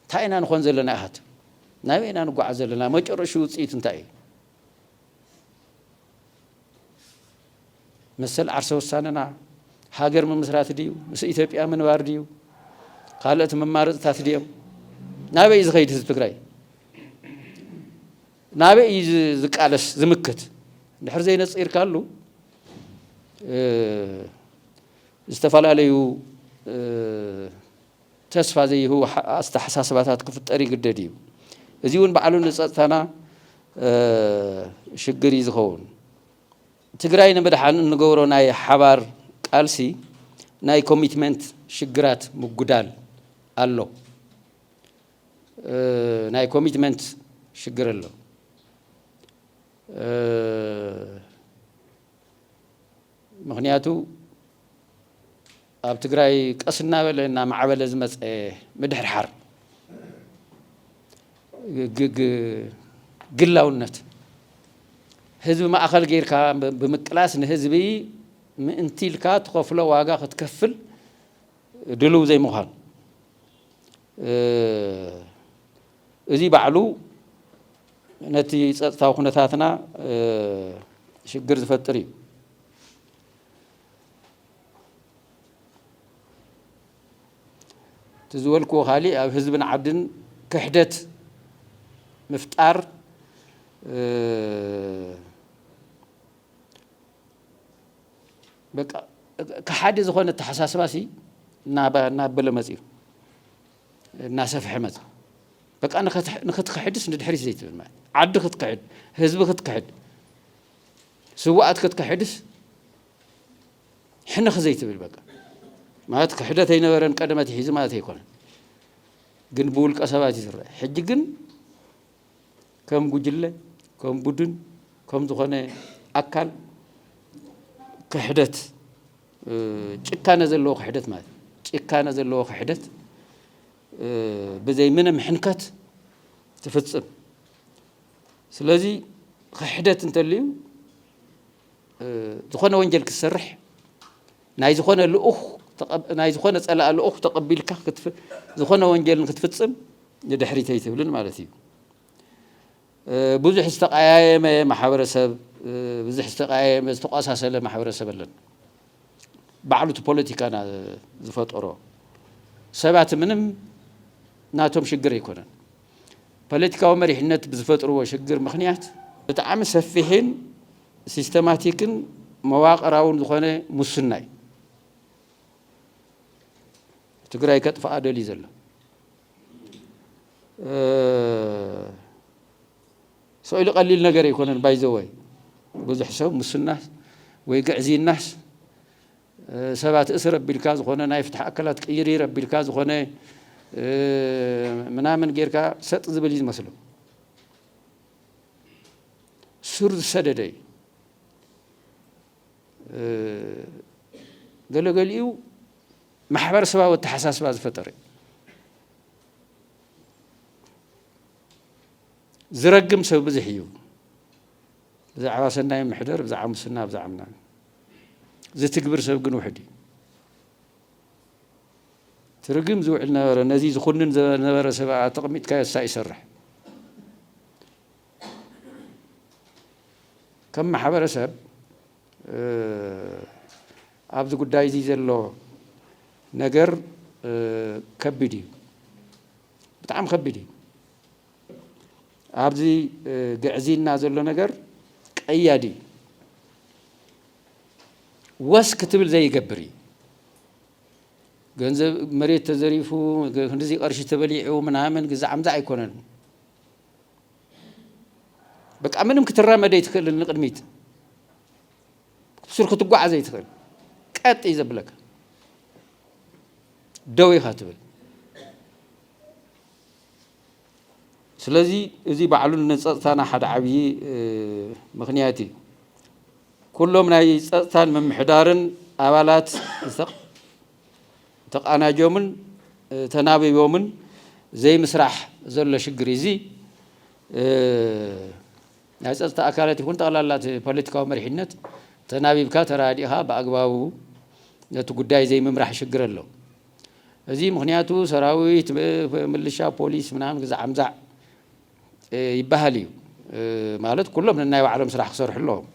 እንታይ ኢና ንኾን ዘለና ኢሃት ናበይ ኢና ንጓዓዝ ዘለና መጨረሹ ውፅኢቱ እንታይ እዩ መሰል ዓርሰ ውሳነና ሃገር ምምስራት ድዩ ምስ ኢትዮጵያ ምንባር ድዩ ካልኦት መማረፅታት ድዮም ናበይ እዩ ዝኸይድ ህዝቢ ትግራይ ናበይ እዩ ዝቃለስ ዝምክት ድሕር ዘይነፂርካሉ ዝተፈላለዩ ተስፋ ዘይህቡ ኣተሓሳስባታት ክፍጠር ይግደድ እዩ። እዚ እውን ባዕሉ ንፀጥታና ሽግር እዩ ዝኸውን። ትግራይ ንምድሓን እንገብሮ ናይ ሓባር ቃልሲ ናይ ኮሚትመንት ሽግራት ምጉዳል ኣሎ። ናይ ኮሚትመንት ሽግር ኣሎ። ምኽንያቱ ኣብ ትግራይ ቀስ እናበለ እናማዕበለ ዝመፀ ምድሕርሓር ግላውነት ህዝቢ ማእኸል ጌርካ ብምቅላስ ንህዝቢ ምእንቲ ኢልካ ትኸፍሎ ዋጋ ክትከፍል ድሉው ዘይምዃን እዚ ባዕሉ ነቲ ፀጥታዊ ኩነታትና ሽግር ዝፈጥር እዩ። እቲ ዝበልክዎ ካሊእ ኣብ ህዝብን ዓድን ክሕደት ምፍጣር በቃ ከሓዲ ዝኾነ ኣተሓሳስባ ሲ እናበለ መፅዩ እናሰፍሐ መፅ በቃ ንክትክሕድስ ንድሕሪት ዘይትብል ማለት ዓዲ ክትክሕድ ህዝቢ ክትክሕድ ስዋኣት ክትክሕድስ ሕንኽ ዘይትብል በቃ ማለት ክሕደት ኣይነበረን ቀደመት ይሒዙ ማለት ኣይኮነን ግን ብውልቀ ሰባት እዩ ዝረአ ሕጂ ግን ከም ጉጅለ ከም ቡድን ከም ዝኾነ ኣካል ክሕደት ጭካነ ዘለዎ ክሕደት ማለት ጭካነ ዘለዎ ክሕደት ብዘይ ምንም ሕንከት ትፍጽም። ስለዚ ክሕደት እንተልዩ ዝኾነ ወንጀል ክትሰርሕ ናይ ዝኾነ ልኡኽ ናይ ዝኾነ ጸላኢ ልኡኽ ተቐቢልካ ዝኾነ ወንጀል ንክትፍጽም ንድሕሪት ኣይትብልን ማለት እዩ። ብዙሕ ዝተቀያየመ ማሕበረሰብ ብዙሕ ዝተቀያየመ ዝተቋሳሰለ ማሕበረሰብ ኣለን ባዕሉ እቲ ፖለቲካና ዝፈጠሮ ሰባት ምንም ናቶም ሽግር ኣይኮነን ፖለቲካዊ መሪሕነት ብዝፈጥርዎ ሽግር ምክንያት ብጣዕሚ ሰፊሕን ሲስተማቲክን መዋቕራውን ዝኾነ ሙስና እዩ ትግራይ ከጥፍኣ ደልዩ ዘሎ። ሰው ኢሉ ቀሊል ነገር ኣይኮነን ባይዘወይ ብዙሕ ሰብ ሙስናስ ወይ ግዕዝይናስ ሰባት እስር ኣቢልካ ዝኾነ ናይ ፍትሒ ኣካላት ቅይሪር ኣቢልካ ዝኾነ ምናምን ጌርካ ሰጥ ዝብል እዩ ዝመስሎ ሱር ዝሰደደ እዩ። ገለገሊኡ ማሕበረሰባዊ ኣተሓሳስባ ዝፈጠረ እዩ። ዝረግም ሰብ ብዙሕ እዩ ብዛዕባ ሰናይ ምሕደር ብዛዕባ ሙስና ብዛዕባ ምናምን ዝትግብር ሰብ ግን ውሕድ እዩ ትርግም ዝውዕል ነበረ ነዚ ዝኹንን ዝነበረ ሰብ ኣተቕሚጥካዮ እሳ ይሰርሕ ከም ማሕበረሰብ ኣብዚ ጉዳይ እዚ ዘሎ ነገር ከቢድ እዩ ብጣዕሚ ከቢድ እዩ ኣብዚ ግዕዝይና ዘሎ ነገር ቀያዲ እዩ ወስ ክትብል ዘይገብር እዩ። ገንዘብ መሬት ተዘሪፉ ክንዲዚ ቀርሺ ተበሊዑ ምናምን ግዛዕ ምዛዕ ኣይኮነን። በቃ ምንም ክትራመደ ይትክእል ንቅድሚት ስር ክትጓዓዘ ይትክእል ቀጥ እዩ ዘብለካ ደው ኢኻ ትብል ስለዚ እዚ ባዕሉ ንጸጥታና ሓደ ዓብዪ ምኽንያት እዩ። ኩሎም ናይ ጸጥታን ምምሕዳርን ኣባላት ተቓናጆምን ተናቢቦምን ዘይምስራሕ ዘሎ ሽግር እዩ። እዚ ናይ ጸጥታ ኣካላት ይኹን ጠቕላላ እቲ ፖለቲካዊ መሪሕነት ተናቢብካ ተረዳዲእኻ ብኣግባቡ ነቲ ጉዳይ ዘይምምራሕ ሽግር ኣሎ። እዚ ምክንያቱ ሰራዊት ምልሻ ፖሊስ ምናምን ግዛዕ ምዛዕ ይበሃል እዩ ማለት ኩሎም ነናይ ባዕሎም ስራሕ ክሰርሑ ኣለዎም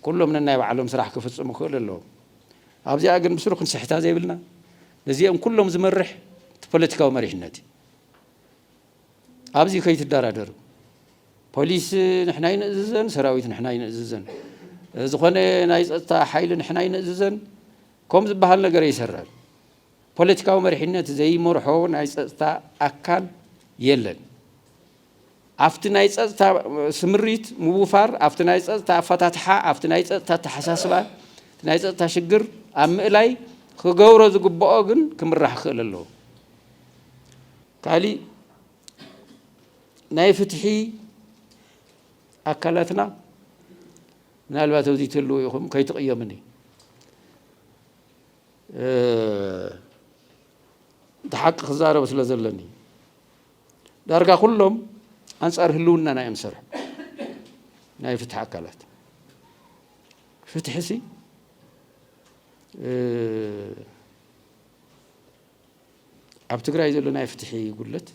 ኩሎም ነናይ ባዕሎም ስራሕ ክፍፅሙ ክክእሉ ኣለዎም ኣብዚኣ ግን ብስሩ ክንስሕታ ዘይብልና ነዚኦም ኩሎም ዝመርሕ እቲ ፖለቲካዊ መሪሕነት እዩ ኣብዚ ከይትደራደሩ ፖሊስ ንሕና ይንእዝዘን ሰራዊት ንሕና ይንእዝዘን ዝኾነ ናይ ፀጥታ ሓይሊ ንሕና ይንእዝዘን ከም ዝበሃል ነገር ኣይሰራን ፖለቲካዊ መሪሕነት ዘይመርሖ ናይ ፀፅታ ኣካል የለን። ኣፍቲ ናይ ፀፅታ ስምሪት ምውፋር፣ ኣፍቲ ናይ ፀፅታ ኣፈታትሓ፣ ኣፍቲ ናይ ፀፅታ ኣተሓሳስባ እቲ ናይ ፀፅታ ሽግር ኣብ ምእላይ ክገብሮ ዝግበኦ ግን ክምራሕ ክኽእል ኣለዎ። ካሊእ ናይ ፍትሒ ኣካላትና ምናልባት ኣብዚ ትህልው ኢኹም ከይትቕየሙኒ እቲ ሓቂ ክዛረብ ስለ ዘለኒ ዳርጋ ኩሎም ኣንጻር ህልውናና እዮም ዝሰርሑ ናይ ፍትሒ ኣካላት ፍትሒ ሲ ኣብ ትግራይ ዘሎ ናይ ፍትሒ ጉድለት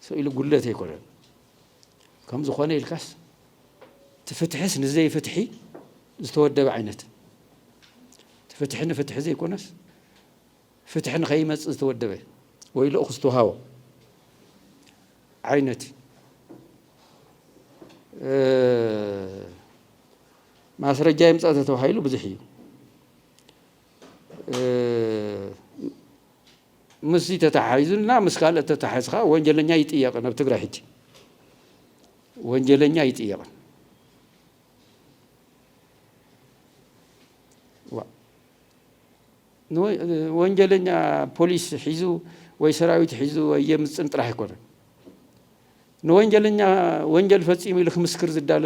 ሰኢሉ ጉድለት ኣይኮነን ከምዚ ኮነ ኢልካስ እቲ ፍትሕስ ንዘይፍትሒ ዝተወደበ ዓይነት እቲ ፍትሒ ንፍትሒ ዘይኮነስ ፍትሒ ንኸይመፅእ ዝተወደበ ወይ ልኡኽ ዝተውሃቦ ዓይነት ማስረጃ ይምፃእ ተተባሂሉ ብዙሕ እዩ ምስዚ ተታሓሒዙ እና ምስ ካልእ ተታሓሒዙ ከኣ ወንጀለኛ ኣይጥየቅን ኣብ ትግራይ ሕጂ ወንጀለኛ ኣይጥየቅን ወንጀለኛ ፖሊስ ሒዙ ወይ ሰራዊት ሒዙ ወይ የምፅን ጥራሕ ኣይኮነን ንወንጀለኛ ወንጀል ፈፂሙ ኢሉ ክምስክር ዝዳሎ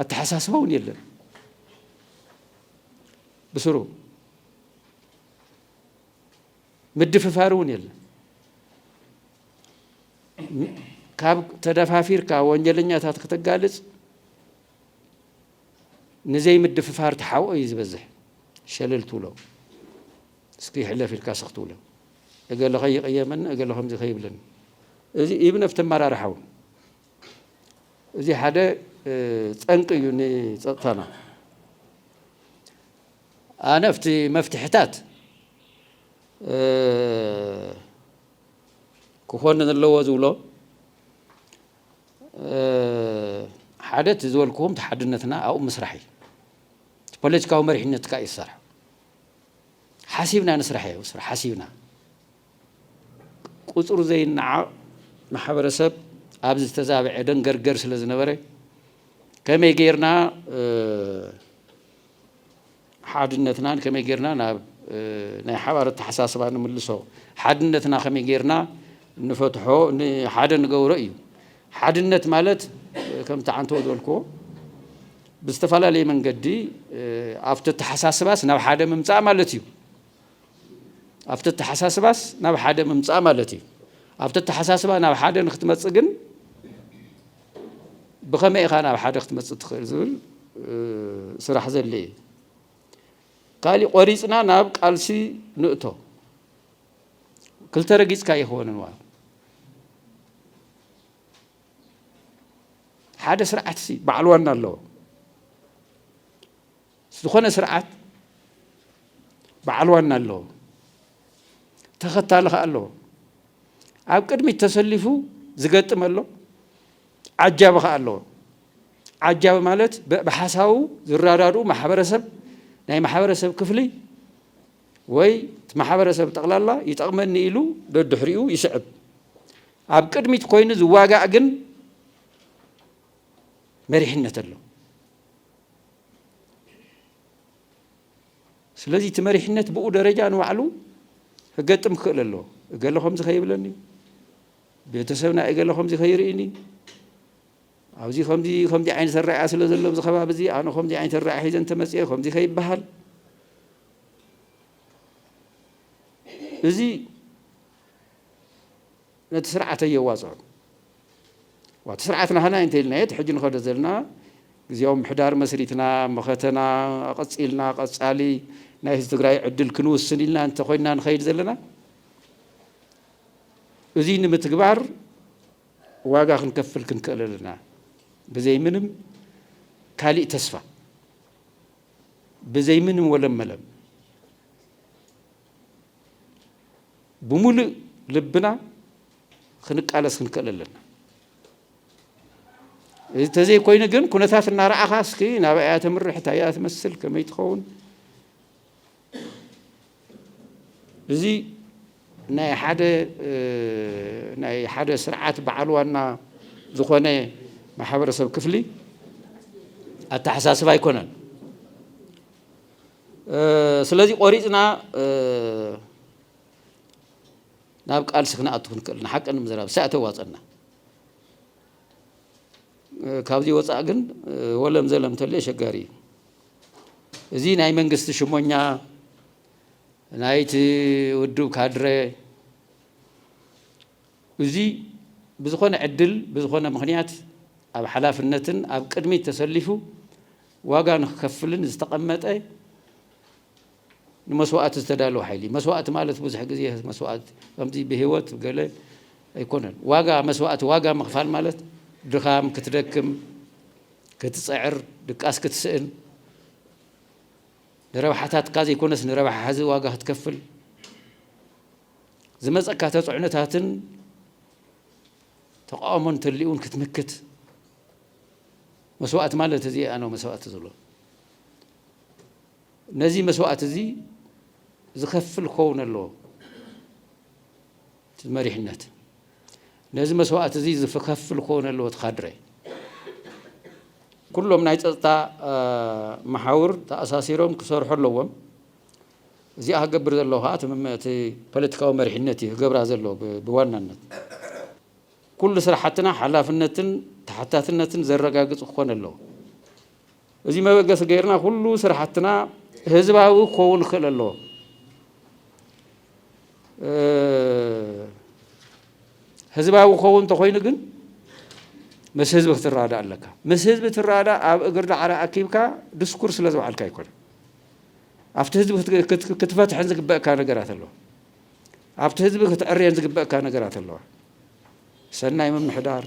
ኣተሓሳስባ እውን የለን ብስሩ ምድፍፋር እውን የለን። ካብ ተደፋፊርካ ወንጀለኛታት ከተጋልጽ ንዘይምድፍፋር ተሓብኦ እዩ ዝበዝሕ ሸለል ትብሎ እስኪ ይሕለፍ ኢልካ ስኽ ትብሎ እገለ ከይቀየመኒ እገለ ከምዚ ከይብለኒ እዚ ኢብን ኣብቲ ኣመራርሓ እውን እዚ ሓደ ጠንቂ እዩ ንፀጥታና ኣነፍቲ መፍትሕታት ክኾን ዘለዎ ዝብሎ ሓደ እቲ ዝበልክዎም ተሓድነትና ኣብኡ ምስራሕ እዩ ፖለቲካዊ መሪሕነት ትካ እዩ ዝሰርሐ ሓሲብና ንስራሕ እዩ ስራሕ ሓሲብና ቁፅሩ ዘይነዓቕ ማሕበረሰብ ኣብዚ ዝተዛበዐ ደንገርገር ስለ ዝነበረ ከመይ ጌርና ሓድነትናን ከመይ ጌርና ናብ ናይ ሓባር ኣተሓሳስባ ንምልሶ ሓድነትና ከመይ ጌርና ንፈትሖ ሓደ ንገብሮ እዩ ሓድነት ማለት ከምቲ ዓንተዎ ዝበልክዎ ብዝተፈላለየ መንገዲ ኣብቲ ኣተሓሳስባስ ናብ ሓደ ምምፃእ ማለት እዩ ኣብቲ ኣተሓሳስባስ ናብ ሓደ ምምፃእ ማለት እዩ ኣብቲ ኣተሓሳስባ ናብ ሓደ ንክትመፅእ ግን ብኸመይ ኢኻ ናብ ሓደ ክትመፅእ ትኽእል ዝብል ስራሕ ዘድልየ እዩ። ካልእ ቆሪፅና ናብ ቃልሲ ንእቶ ክልተ ረጊፅካ ኣይኮነን ዋ ሓደ ስርዓትሲ በዓል ዋና ኣለዎ ዝኾነ ስርዓት በዓል ዋና ኣለዎ፣ ተኸታሊ ከኣ ኣለዎ። ኣብ ቅድሚት ተሰሊፉ ዝገጥም ኣሎ፣ ዓጃቢ ከኣ ኣለዎ። ዓጃቢ ማለት ብሓሳቡ ዝረዳድኡ ማሕበረሰብ ናይ ማሕበረሰብ ክፍሊ ወይ ማሕበረሰብ ጠቕላላ ይጠቕመኒ ኢሉ ደድሕሪኡ ይስዕብ። ኣብ ቅድሚት ኮይኑ ዝዋጋእ ግን መሪሕነት ኣሎ። ስለዚ እቲ መሪሕነት ብኡ ደረጃ ንባዕሉ ክገጥም ክኽእል ኣለዎ እገለ ከምዚ ከይብለኒ ቤተሰብና እገለ ከምዚ ከይርእኒ ኣብዚ ከምዚ ከምዚ ዓይነት ኣረኣያ ስለ ዘሎ ኣብዚ ከባቢ እዚ ኣነ ከምዚ ዓይነት ኣረኣያ ሒዘ እንተመፅኦ ከምዚ ከይበሃል እዚ ነቲ ስርዓት ኣየዋጽዕኩ እኳ እቲ ስርዓት ናህና እዩ እንተኢልናዮ እቲ ሕጂ ንኸዶ ዘለና ግዝያዊ ምሕዳር መስሪትና መኸተና ኣቐጺልና ቀጻሊ ናይ ህዝቢ ትግራይ ዕድል ክንውስን ኢልና እንተኾይንና ንኸይድ ዘለና እዙይ ንምትግባር ዋጋ ክንከፍል ክንክእል ኣለና ብዘይ ምንም ካሊእ ተስፋ ብዘይ ምንም ወለመለም ብምሉእ ልብና ክንቃለስ ክንክእል ኣለና እዚ ተዘይኮይኑ ግን ኩነታት እናረኣኻ እስኪ ናብ እያ ተምርሕ እንታይ እያ ትመስል ከመይ ትኸውን እዚ ናይ ሓደ ናይ ሓደ ስርዓት በዓል ዋና ዝኾነ ማሕበረሰብ ክፍሊ ኣተሓሳስባ ኣይኮነን ስለዚ ቆሪፅና ናብ ቃልሲ ክንኣቱ ክንክእል ንሓቂ ንምዝራብ ሳእ ተዋፀና ካብዚ ወፃእ ግን ወለም ዘለም ተሎ የሸጋሪ እዩ እዚ ናይ መንግስቲ ሽሞኛ ናይቲ ውድብ ካድረ እዚ ብዝኾነ ዕድል ብዝኾነ ምክንያት ኣብ ሓላፍነትን ኣብ ቅድሚት ተሰሊፉ ዋጋ ንክከፍልን ዝተቐመጠ ንመስዋእቲ ዝተዳለወ ሓይሊ እዩ። መስዋእቲ ማለት ብዙሕ ግዜ መስዋእቲ ከምዚ ብህይወት ገለ ኣይኮነን። ዋጋ መስዋእቲ ዋጋ ምኽፋል ማለት ድኻም፣ ክትደክም፣ ክትጽዕር፣ ድቃስ ክትስእን፣ ንረብሓታትካ ዘይኮነስ ንረብሓ ሕዚ ዋጋ ክትከፍል፣ ዝመጸካ ተጽዕኖታትን ተቃውሞን እንተልዩውን ክትምክት፣ መስዋእቲ ማለት እዚ ኣነ መስዋእቲ ዝብሎ ነዚ መስዋእቲ እዚ ዝኸፍል ክኸውን ኣለዎ እቲ መሪሕነት ነዚ መስዋእቲ እዚ ዝከፍል ክኸውን ኣለዎ እቲ ካድረ ኩሎም ናይ ፀጥታ መሓውር ተኣሳሲሮም ክሰርሑ ኣለዎም እዚኣ ክገብር ዘለዎ ከዓ እቲ ፖለቲካዊ መሪሕነት እዩ ክገብራ ዘለዎ ብዋናነት ኩሉ ስራሕትና ሓላፍነትን ተሓታትነትን ዘረጋግፅ ክኾን ኣለዎ። እዚ መበገሲ ገይርና ኩሉ ስራሕትና ህዝባዊ ክኸውን ክኽእል ኣለዎ። ህዝባዊ ክኸውን እንተኾይኑ ግን ምስ ህዝቢ ክትረዳእ ኣለካ። ምስ ህዝቢ ትረዳእ ኣብ እግሪ ዳዕሮ ኣኪብካ ድስኩር ስለ ዝበዓልካ ኣይኮነ ኣብቲ ህዝቢ ክትፈትሐን ዝግበእካ ነገራት ኣለዎ። ኣብቲ ህዝቢ ክትዕርየን ዝግበእካ ነገራት ኣለዋ። ሰናይ ምምሕዳር፣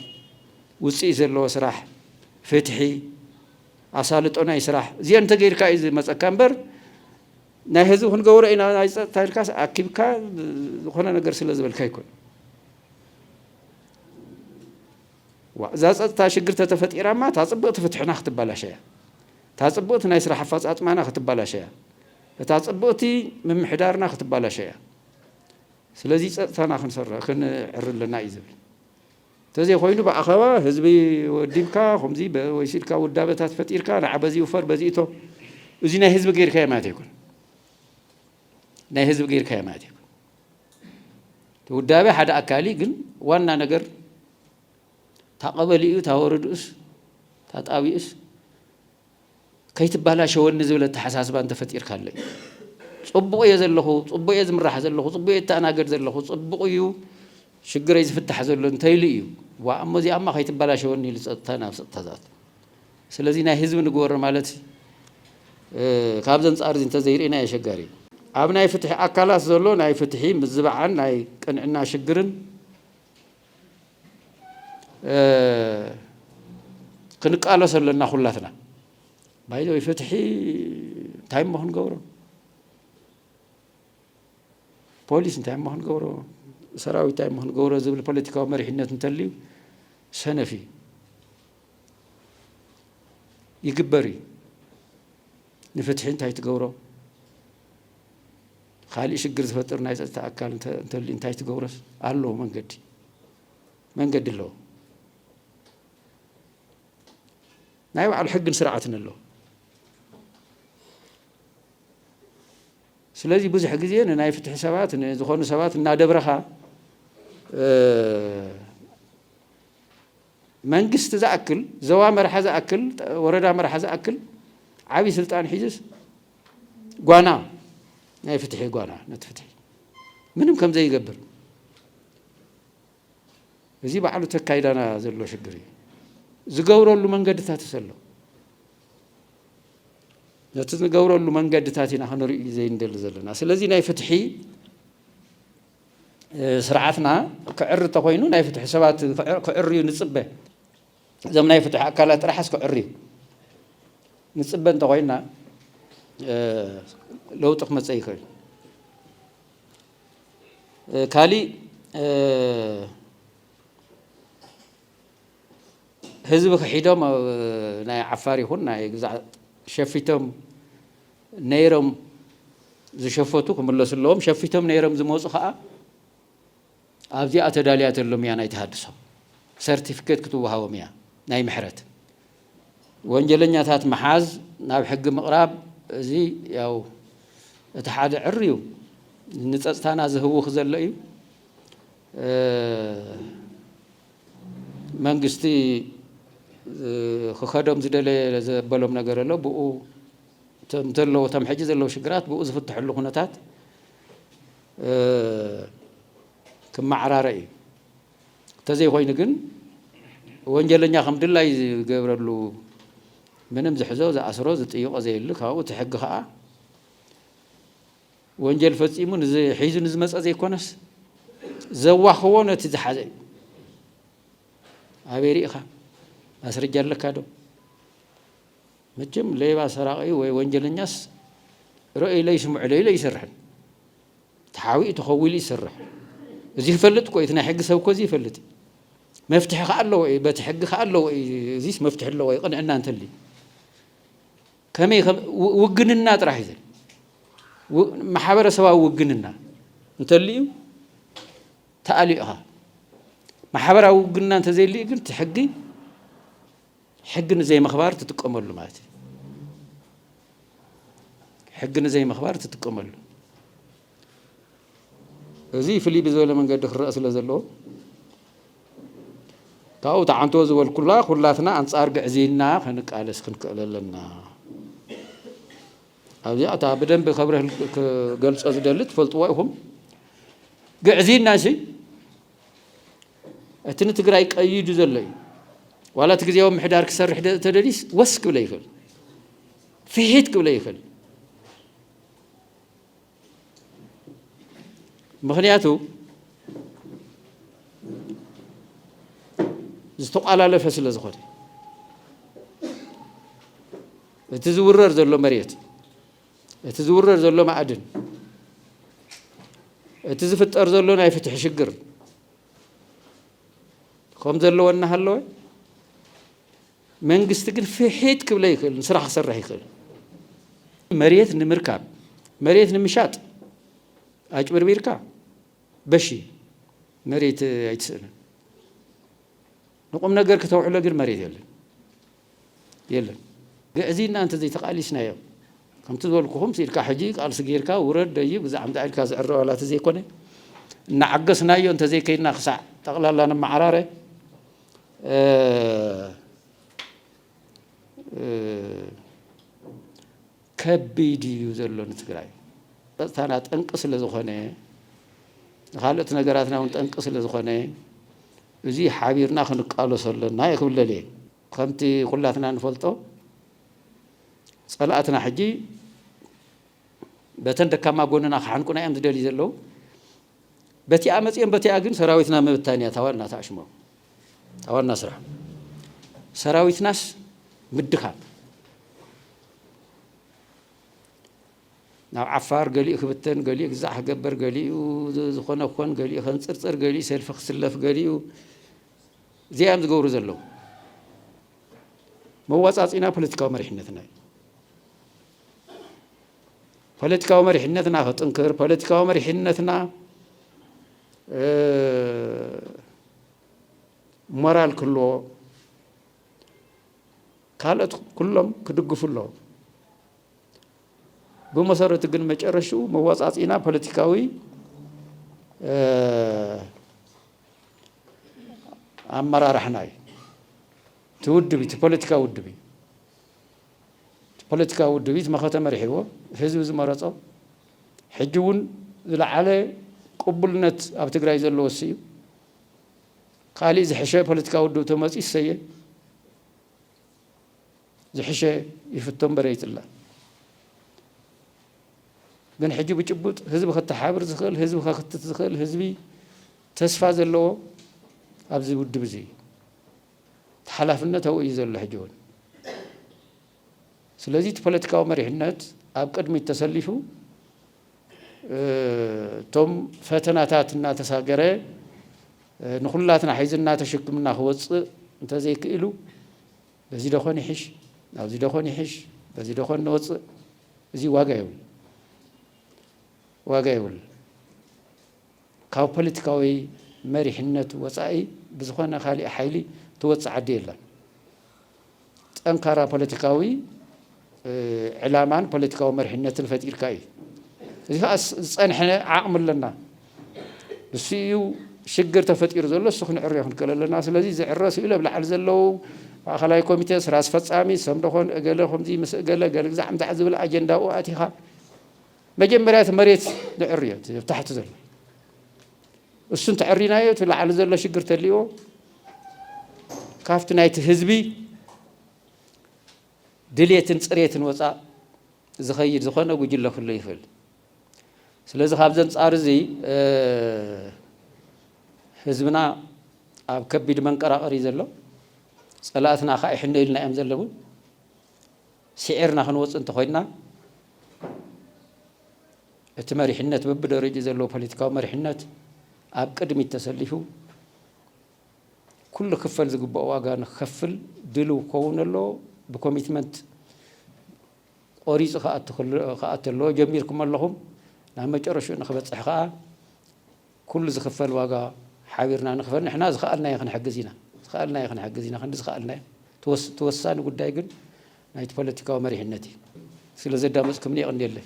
ውፅኢት ዘለዎ ስራሕ፣ ፍትሒ፣ ኣሳልጦ ናይ ስራሕ እዚኦ እንተገይርካ እዩ ዝመፀካ እምበር ናይ ህዝቢ ክንገብሮ ኢና ናይ ፀጥታ ኢልካስ ኣኪብካ ዝኾነ ነገር ስለ ዝበልካ ኣይኮነ እዛ ፀጥታ ሽግር ተተፈጢራማ እታ ፅብቕቲ ፍትሕና ክትባላሸያ እታ ፅብቕቲ ናይ ስራሕ ኣፈፃፅማና ክትባላሸያ እታ ጽብቅቲ ምምሕዳርና ክትባላሾ እያ ስለዚ ጸጥታና ክንሰር ክንዕሪ ኣለና እዩ ዝብል ተዘይኮይኑ ብኣኸባ ህዝቢ ወዲብካ ከምዚ ወይሲልካ ውዳበታት ፈጢርካ ንዓ በዚ ውፈር በዚ እቶ እዚ ናይ ህዝቢ ገይርካዮ ማለት ኣይኮነ ናይ ህዝቢ ገይርካዮ ማለት ኣይኮነ ውዳበ ሓደ ኣካሊ ግን ዋና ነገር ታቐበሊኡ ታወረድኡስ ታጣቢኡስ ከይትባላሸወኒ ዝብል ኣተሓሳስባ እንተፈጢርካለይ ፅቡቕ እየ ዘለኹ፣ ፅቡቕ እየ ዝምራሕ ዘለኹ፣ ፅቡቕ እየ እተኣናገድ ዘለኹ፣ ፅቡቕ እዩ ሽግረይ ዝፍታሕ ዘሎ እንተይሉ እዩ ዋእ እሞ እዚኣማ ከይትባላሸወኒ ኢሉ ፀጥታ ናብ ፀጥታ ዝኣቱ። ስለዚ ናይ ህዝቢ ንግበሮ ማለት ካብዚ ኣንፃር እዚ እንተዘይርኢናዮ ኣሸጋሪ እዩ። ኣብ ናይ ፍትሒ ኣካላት ዘሎ ናይ ፍትሒ ምዝባዕን ናይ ቅንዕና ሽግርን፣ ክንቃለሶ ኣለና ኩላትና ባይዘ ፍትሒ እንታይ እሞ ክንገብሮ ፖሊስ እንታይ እሞ ክንገብሮ ሰራዊት እንታይ እሞ ክንገብሮ ዝብል ፖለቲካዊ መሪሕነት እንተልዩ ሰነፍ እዩ ይግበር እዩ ንፍትሒ እንታይ ትገብሮ ኻሊእ ሽግር ዝፈጥር ናይ ፀጥታ ኣካል እንተልዩ እንታይ ትገብሮስ ኣሎ መንገዲ መንገዲ ኣለዎ ናይ ባዕሉ ሕግን ስርዓትን ኣለዎ ስለዚ ብዙሕ ግዜ ንናይ ፍትሒ ሰባት ንዝኾኑ ሰባት እናደብረኻ መንግስቲ ዝኣክል ዘዋ መርሓ ዝኣክል ወረዳ መርሓ ዝኣክል ዓብዪ ስልጣን ሒዝስ ጓና ናይ ፍትሒ ጓና ነቲ ፍትሒ ምንም ከም ዘይገብር እዚ ባዕሉ ተካይዳና ዘሎ ሽግር እዩ ዝገብረሉ መንገድታት ዘሎ ነቲ ዝገብረሉ መንገድታት ኢና ክንርኢ ዘይንደሊ ዘለና ስለዚ ናይ ፍትሒ ስርዓትና ክዕሪ ተኮይኑ ናይ ፍትሒ ሰባት ክዕርዩ ንፅበ እዞም ናይ ፍትሒ ኣካላት ጥራሕስ ክዕርዩ ንጽበ እንተኾይንና ለውጢ ክመጽእ ይኽእል። ካሊእ ህዝቢ ክሒዶም ናይ ዓፋር ይኹን ናይ ግዛዕ ሸፊቶም ነይሮም ዝሸፈቱ ክምለሱ ኣለዎም። ሸፊቶም ነይሮም ዝመፁ ከዓ ኣብዚኣ ተዳልያተሎም እያ ናይ ተሃድሶ ሰርቲፊኬት ክትወሃቦም እያ ናይ ምሕረት ወንጀለኛታት ምሓዝ ናብ ሕጊ ምቕራብ እዚ ያው እቲ ሓደ ዕር እዩ ንፀፅታና ዝህውኽ ዘሎ እዩ መንግስቲ ክኸዶም ዝደለየ ዘበሎም ነገር ኣሎ ብኡ እቶም ዘለዎ እቶም ሕጂ ዘለዉ ሽግራት ብኡ ዝፍትሐሉ ኩነታት ክመዓራረ እዩ ተዘይ ኮይኑ ግን ወንጀለኛ ከም ድላይ ዝገብረሉ ምንም ዝሕዞ ዝኣስሮ ዝጥይቆ ዘየሉ ካብኡ እቲ ሕጊ ከዓ ወንጀል ፈፂሙ ሒዙ ንዝመፀ ዘይኮነስ ዘዋኽቦ ነቲ ዝሓዘ እዩ ኣበይ ርኢኻ ማስረጃ ኣለካ ዶ መቸም ሌባ ሰራቒ ወይ ወንጀለኛስ ርእይለይ ስምዑለይ ኢሉ ኣይሰርሕን ተሓዊኡ ተኸው ኢሉ ይሰርሕ እዚ ይፈልጥ እኮ እዩ እቲ ናይ ሕጊ ሰብ እኮ እዚ ይፈልጥ እዩ መፍትሒ ከዓ ኣለዎ እዩ በቲ ሕጊ ከዓ ኣለዎ እዩ እዚስ መፍትሒ ኣለዎ እዩ ቅንዕና እንተልዩ ከመይ ውግንና ጥራሕ እዩ ማሕበረሰባዊ ውግንና እንተልዩ ተኣልዩ ኢኻ ማሕበራዊ ውግንና እንተዘይልዩ ግን እቲ ሕጊ ሕጊ ንዘይምኽባር ትጥቀመሉ ማለት እዩ። ሕጊ ንዘይምኽባር ትጥቀመሉ እዚ ፍልይ ብዝበለ መንገዲ ክረአ ስለ ዘለዎ ካብኡ ተዓንቶ ዝበልኩላ ኩላትና ኣንጻር ግዕዝይና ክንቃለስ ክንክእል ኣለና። ኣብዚኣ እታ ብደንብ ከብረህ ክገልጾ ዝደሊ ትፈልጥዎ ኢኹም ግዕዝይና ሲ እቲ ንትግራይ ቀይዱ ዘሎ እዩ ዋላ እቲ ግዜያዊ ምሕዳር ክሰርሕ ተደልዩስ ወስ ክብለ ይኽእል ፍሒት ክብለ ይኽእል ምክንያቱ ዝተቋላለፈ ስለ ዝኾነ እቲ ዝውረር ዘሎ መሬት እቲ ዝውረድ ዘሎ ማዕድን፣ እቲ ዝፍጠር ዘሎ ናይ ፍትሒ ሽግር ከም ዘለዎ እናሃለወ መንግስቲ ግን ፍሒት ክብለ ይኽእል፣ ስራሕ ክሰርሕ ይኽእል። መሬት ንምርካብ መሬት ንምሻጥ ኣጭብርቢርካ በሺ መሬት ኣይትስእንን። ንቁም ነገር ክተውዕሎ ግን መሬት የለን። የለን ግዕዝይና እንተዘይተቃሊስናዮ ከምቲ ዝበልኩኹምስ ኢልካ ሕጂ ቃልሲ ጌርካ ውረድ ደይብ እዛ ኣምጻእ ኢልካ ዝዕረ ዋላ ተዘይኮነ እናዓገስናዮ እንተዘይከይድና ክሳዕ ጠቕላላ ንመዓራረ ከቢድ እዩ ዘሎ ንትግራይ ፀፅታና ጠንቂ ስለዝኾነ ንካልኦት ነገራትና እውን ጠንቂ ስለዝኾነ እዙይ ሓቢርና ክንቃለሶ ኣለና እዩ ክብለል እየ ከምቲ ኩላትና ንፈልጦ ፀላእትና ሕጂ በተን ደካማ ጎንና ክሓንቁና እዮም ዝደልዩ ዘለዉ በቲኣ መፅዮም በቲኣ ግን ሰራዊትና ምብታን እያ ታዋና ታሽሞም ታዋና ስራሕ ሰራዊትናስ ምድኻም ናብ ዓፋር ገሊኡ ክብተን ገሊኡ ግዛዕ ክገበር ገሊኡ ዝኾነ ክኾን ገሊኡ ከንፅርፅር ገሊኡ ሰልፊ ክስለፍ ገሊኡ እዚኣም ዝገብሩ ዘለዉ መዋፃፂና ፖለቲካዊ መሪሕነትና እዩ ፖለቲካዊ መሪሕነትና ክጥንክር ፖለቲካዊ መሪሕነትና ሞራል ክህልዎ ካልኦት ኩሎም ክድግፉ ኣለዎም። ብመሰረቱ ግን መጨረሽኡ መወፃፅኢና ፖለቲካዊ ኣመራርሕና እዩ። እቲ ውድብ እቲ ፖለቲካዊ ውድብ እዩ። እቲ ፖለቲካዊ ውድብ እቲ መኸተ መሪሕዎ ህዝቢ ዝመረፆ ሕጂ እውን ዝለዓለ ቅቡልነት ኣብ ትግራይ ዘለዎ እሱ እዩ። ካሊእ ዝሕሸ ፖለቲካዊ ውድብ ተመፅዩ እሰየ ዝሕሸ ይፍቶ እምበር ይፅላ። ግን ሕጂ ብጭቡጥ ህዝቢ ከተሓብር ዝኽእል ህዝቢ ከክትት ዝኽእል ህዝቢ ተስፋ ዘለዎ ኣብዚ ውድብ እዚ እዩ። እቲ ሓላፍነት ኣብኡ እዩ ዘሎ ሕጂ እውን። ስለዚ እቲ ፖለቲካዊ መሪሕነት ኣብ ቅድሚት ተሰሊፉ እቶም ፈተናታት እናተሳገረ ንኩላትና ሒዝና ተሸክምና ክወፅእ እንተዘይክኢሉ በዚ ደኾን ይሕሽ ናብዚ ደኾን ይሕሽ በዚ ደኾን ንወፅእ እዚ ዋጋ ይብል ዋጋ ይብል ካብ ፖለቲካዊ መሪሕነት ወፃኢ ብዝኾነ ካሊእ ሓይሊ ትወፅእ ዓዲ የላን። ጠንካራ ፖለቲካዊ ዕላማን ፖለቲካዊ መሪሕነትን ፈጢርካ እዩ። እዚ ከዓ ዝፀንሐ ዓቕሚ ኣለና። ንሱ እዩ ሽግር ተፈጢሩ ዘሎ እሱ ክንዕርዮ ክንክእል ኣለና። ስለዚ ዝዕረ ስኢሉ ኣብ ላዕሊ ዘለዉ ማእኸላይ ኮሚቴ ስራ ኣስፈፃሚ ሰምደኾን እገለ ከምዚ ምስ እገለ ገለ ግዛዕ ምዛዕ ዝብል ኣጀንዳኡ ኣእቲኻ መጀመርያ እቲ መሬት ንዕርዮ እቲ ኣብ ታሕቲ ዘሎ እሱ እንተዕሪናዮ እቲ ላዕሊ ዘሎ ሽግር ተልዎ ካብቲ ናይቲ ህዝቢ ድሌትን ፅሬትን ወፃእ ዝኸይድ ዝኾነ ጉጅለ ክህሉ ይኽእል ስለዚ ካብዚ ኣንጻር እዚ ህዝብና ኣብ ከቢድ መንቀራቐሪ ዘሎ ፀላእትና ከዓ ይሕነዩልና እዮም ዘለዉ ሲዒርና ክንወጽእ እንተኾይንና እቲ መሪሕነት በብደረጅኡ ዘለዎ ፖለቲካዊ መሪሕነት ኣብ ቅድሚት ተሰሊፉ ኩሉ ክፈል ዝግብኦ ዋጋ ንክከፍል ድልው ክኸውን ኣለዎ ብኮሚትመንት ቆሪፁ ክኣቱ ኣለዎ ጀሚርኩም ኣለኹም ናብ መጨረሽኡ ንክበፅሕ ከዓ ኩሉ ዝኽፈል ዋጋ ሓቢርና ንኽፈል ንሕና ዝኸኣልናዮ ክንሕግዝ ኢና ዝኸኣልናዮ ክንሕግዝ ኢና ክንዲ ዝኸኣልናዮ እቲ ወሳኒ ጉዳይ ግን ናይቲ ፖለቲካዊ መሪሕነት እዩ ስለ ዘዳመፅኩምኒ የቕንየለይ።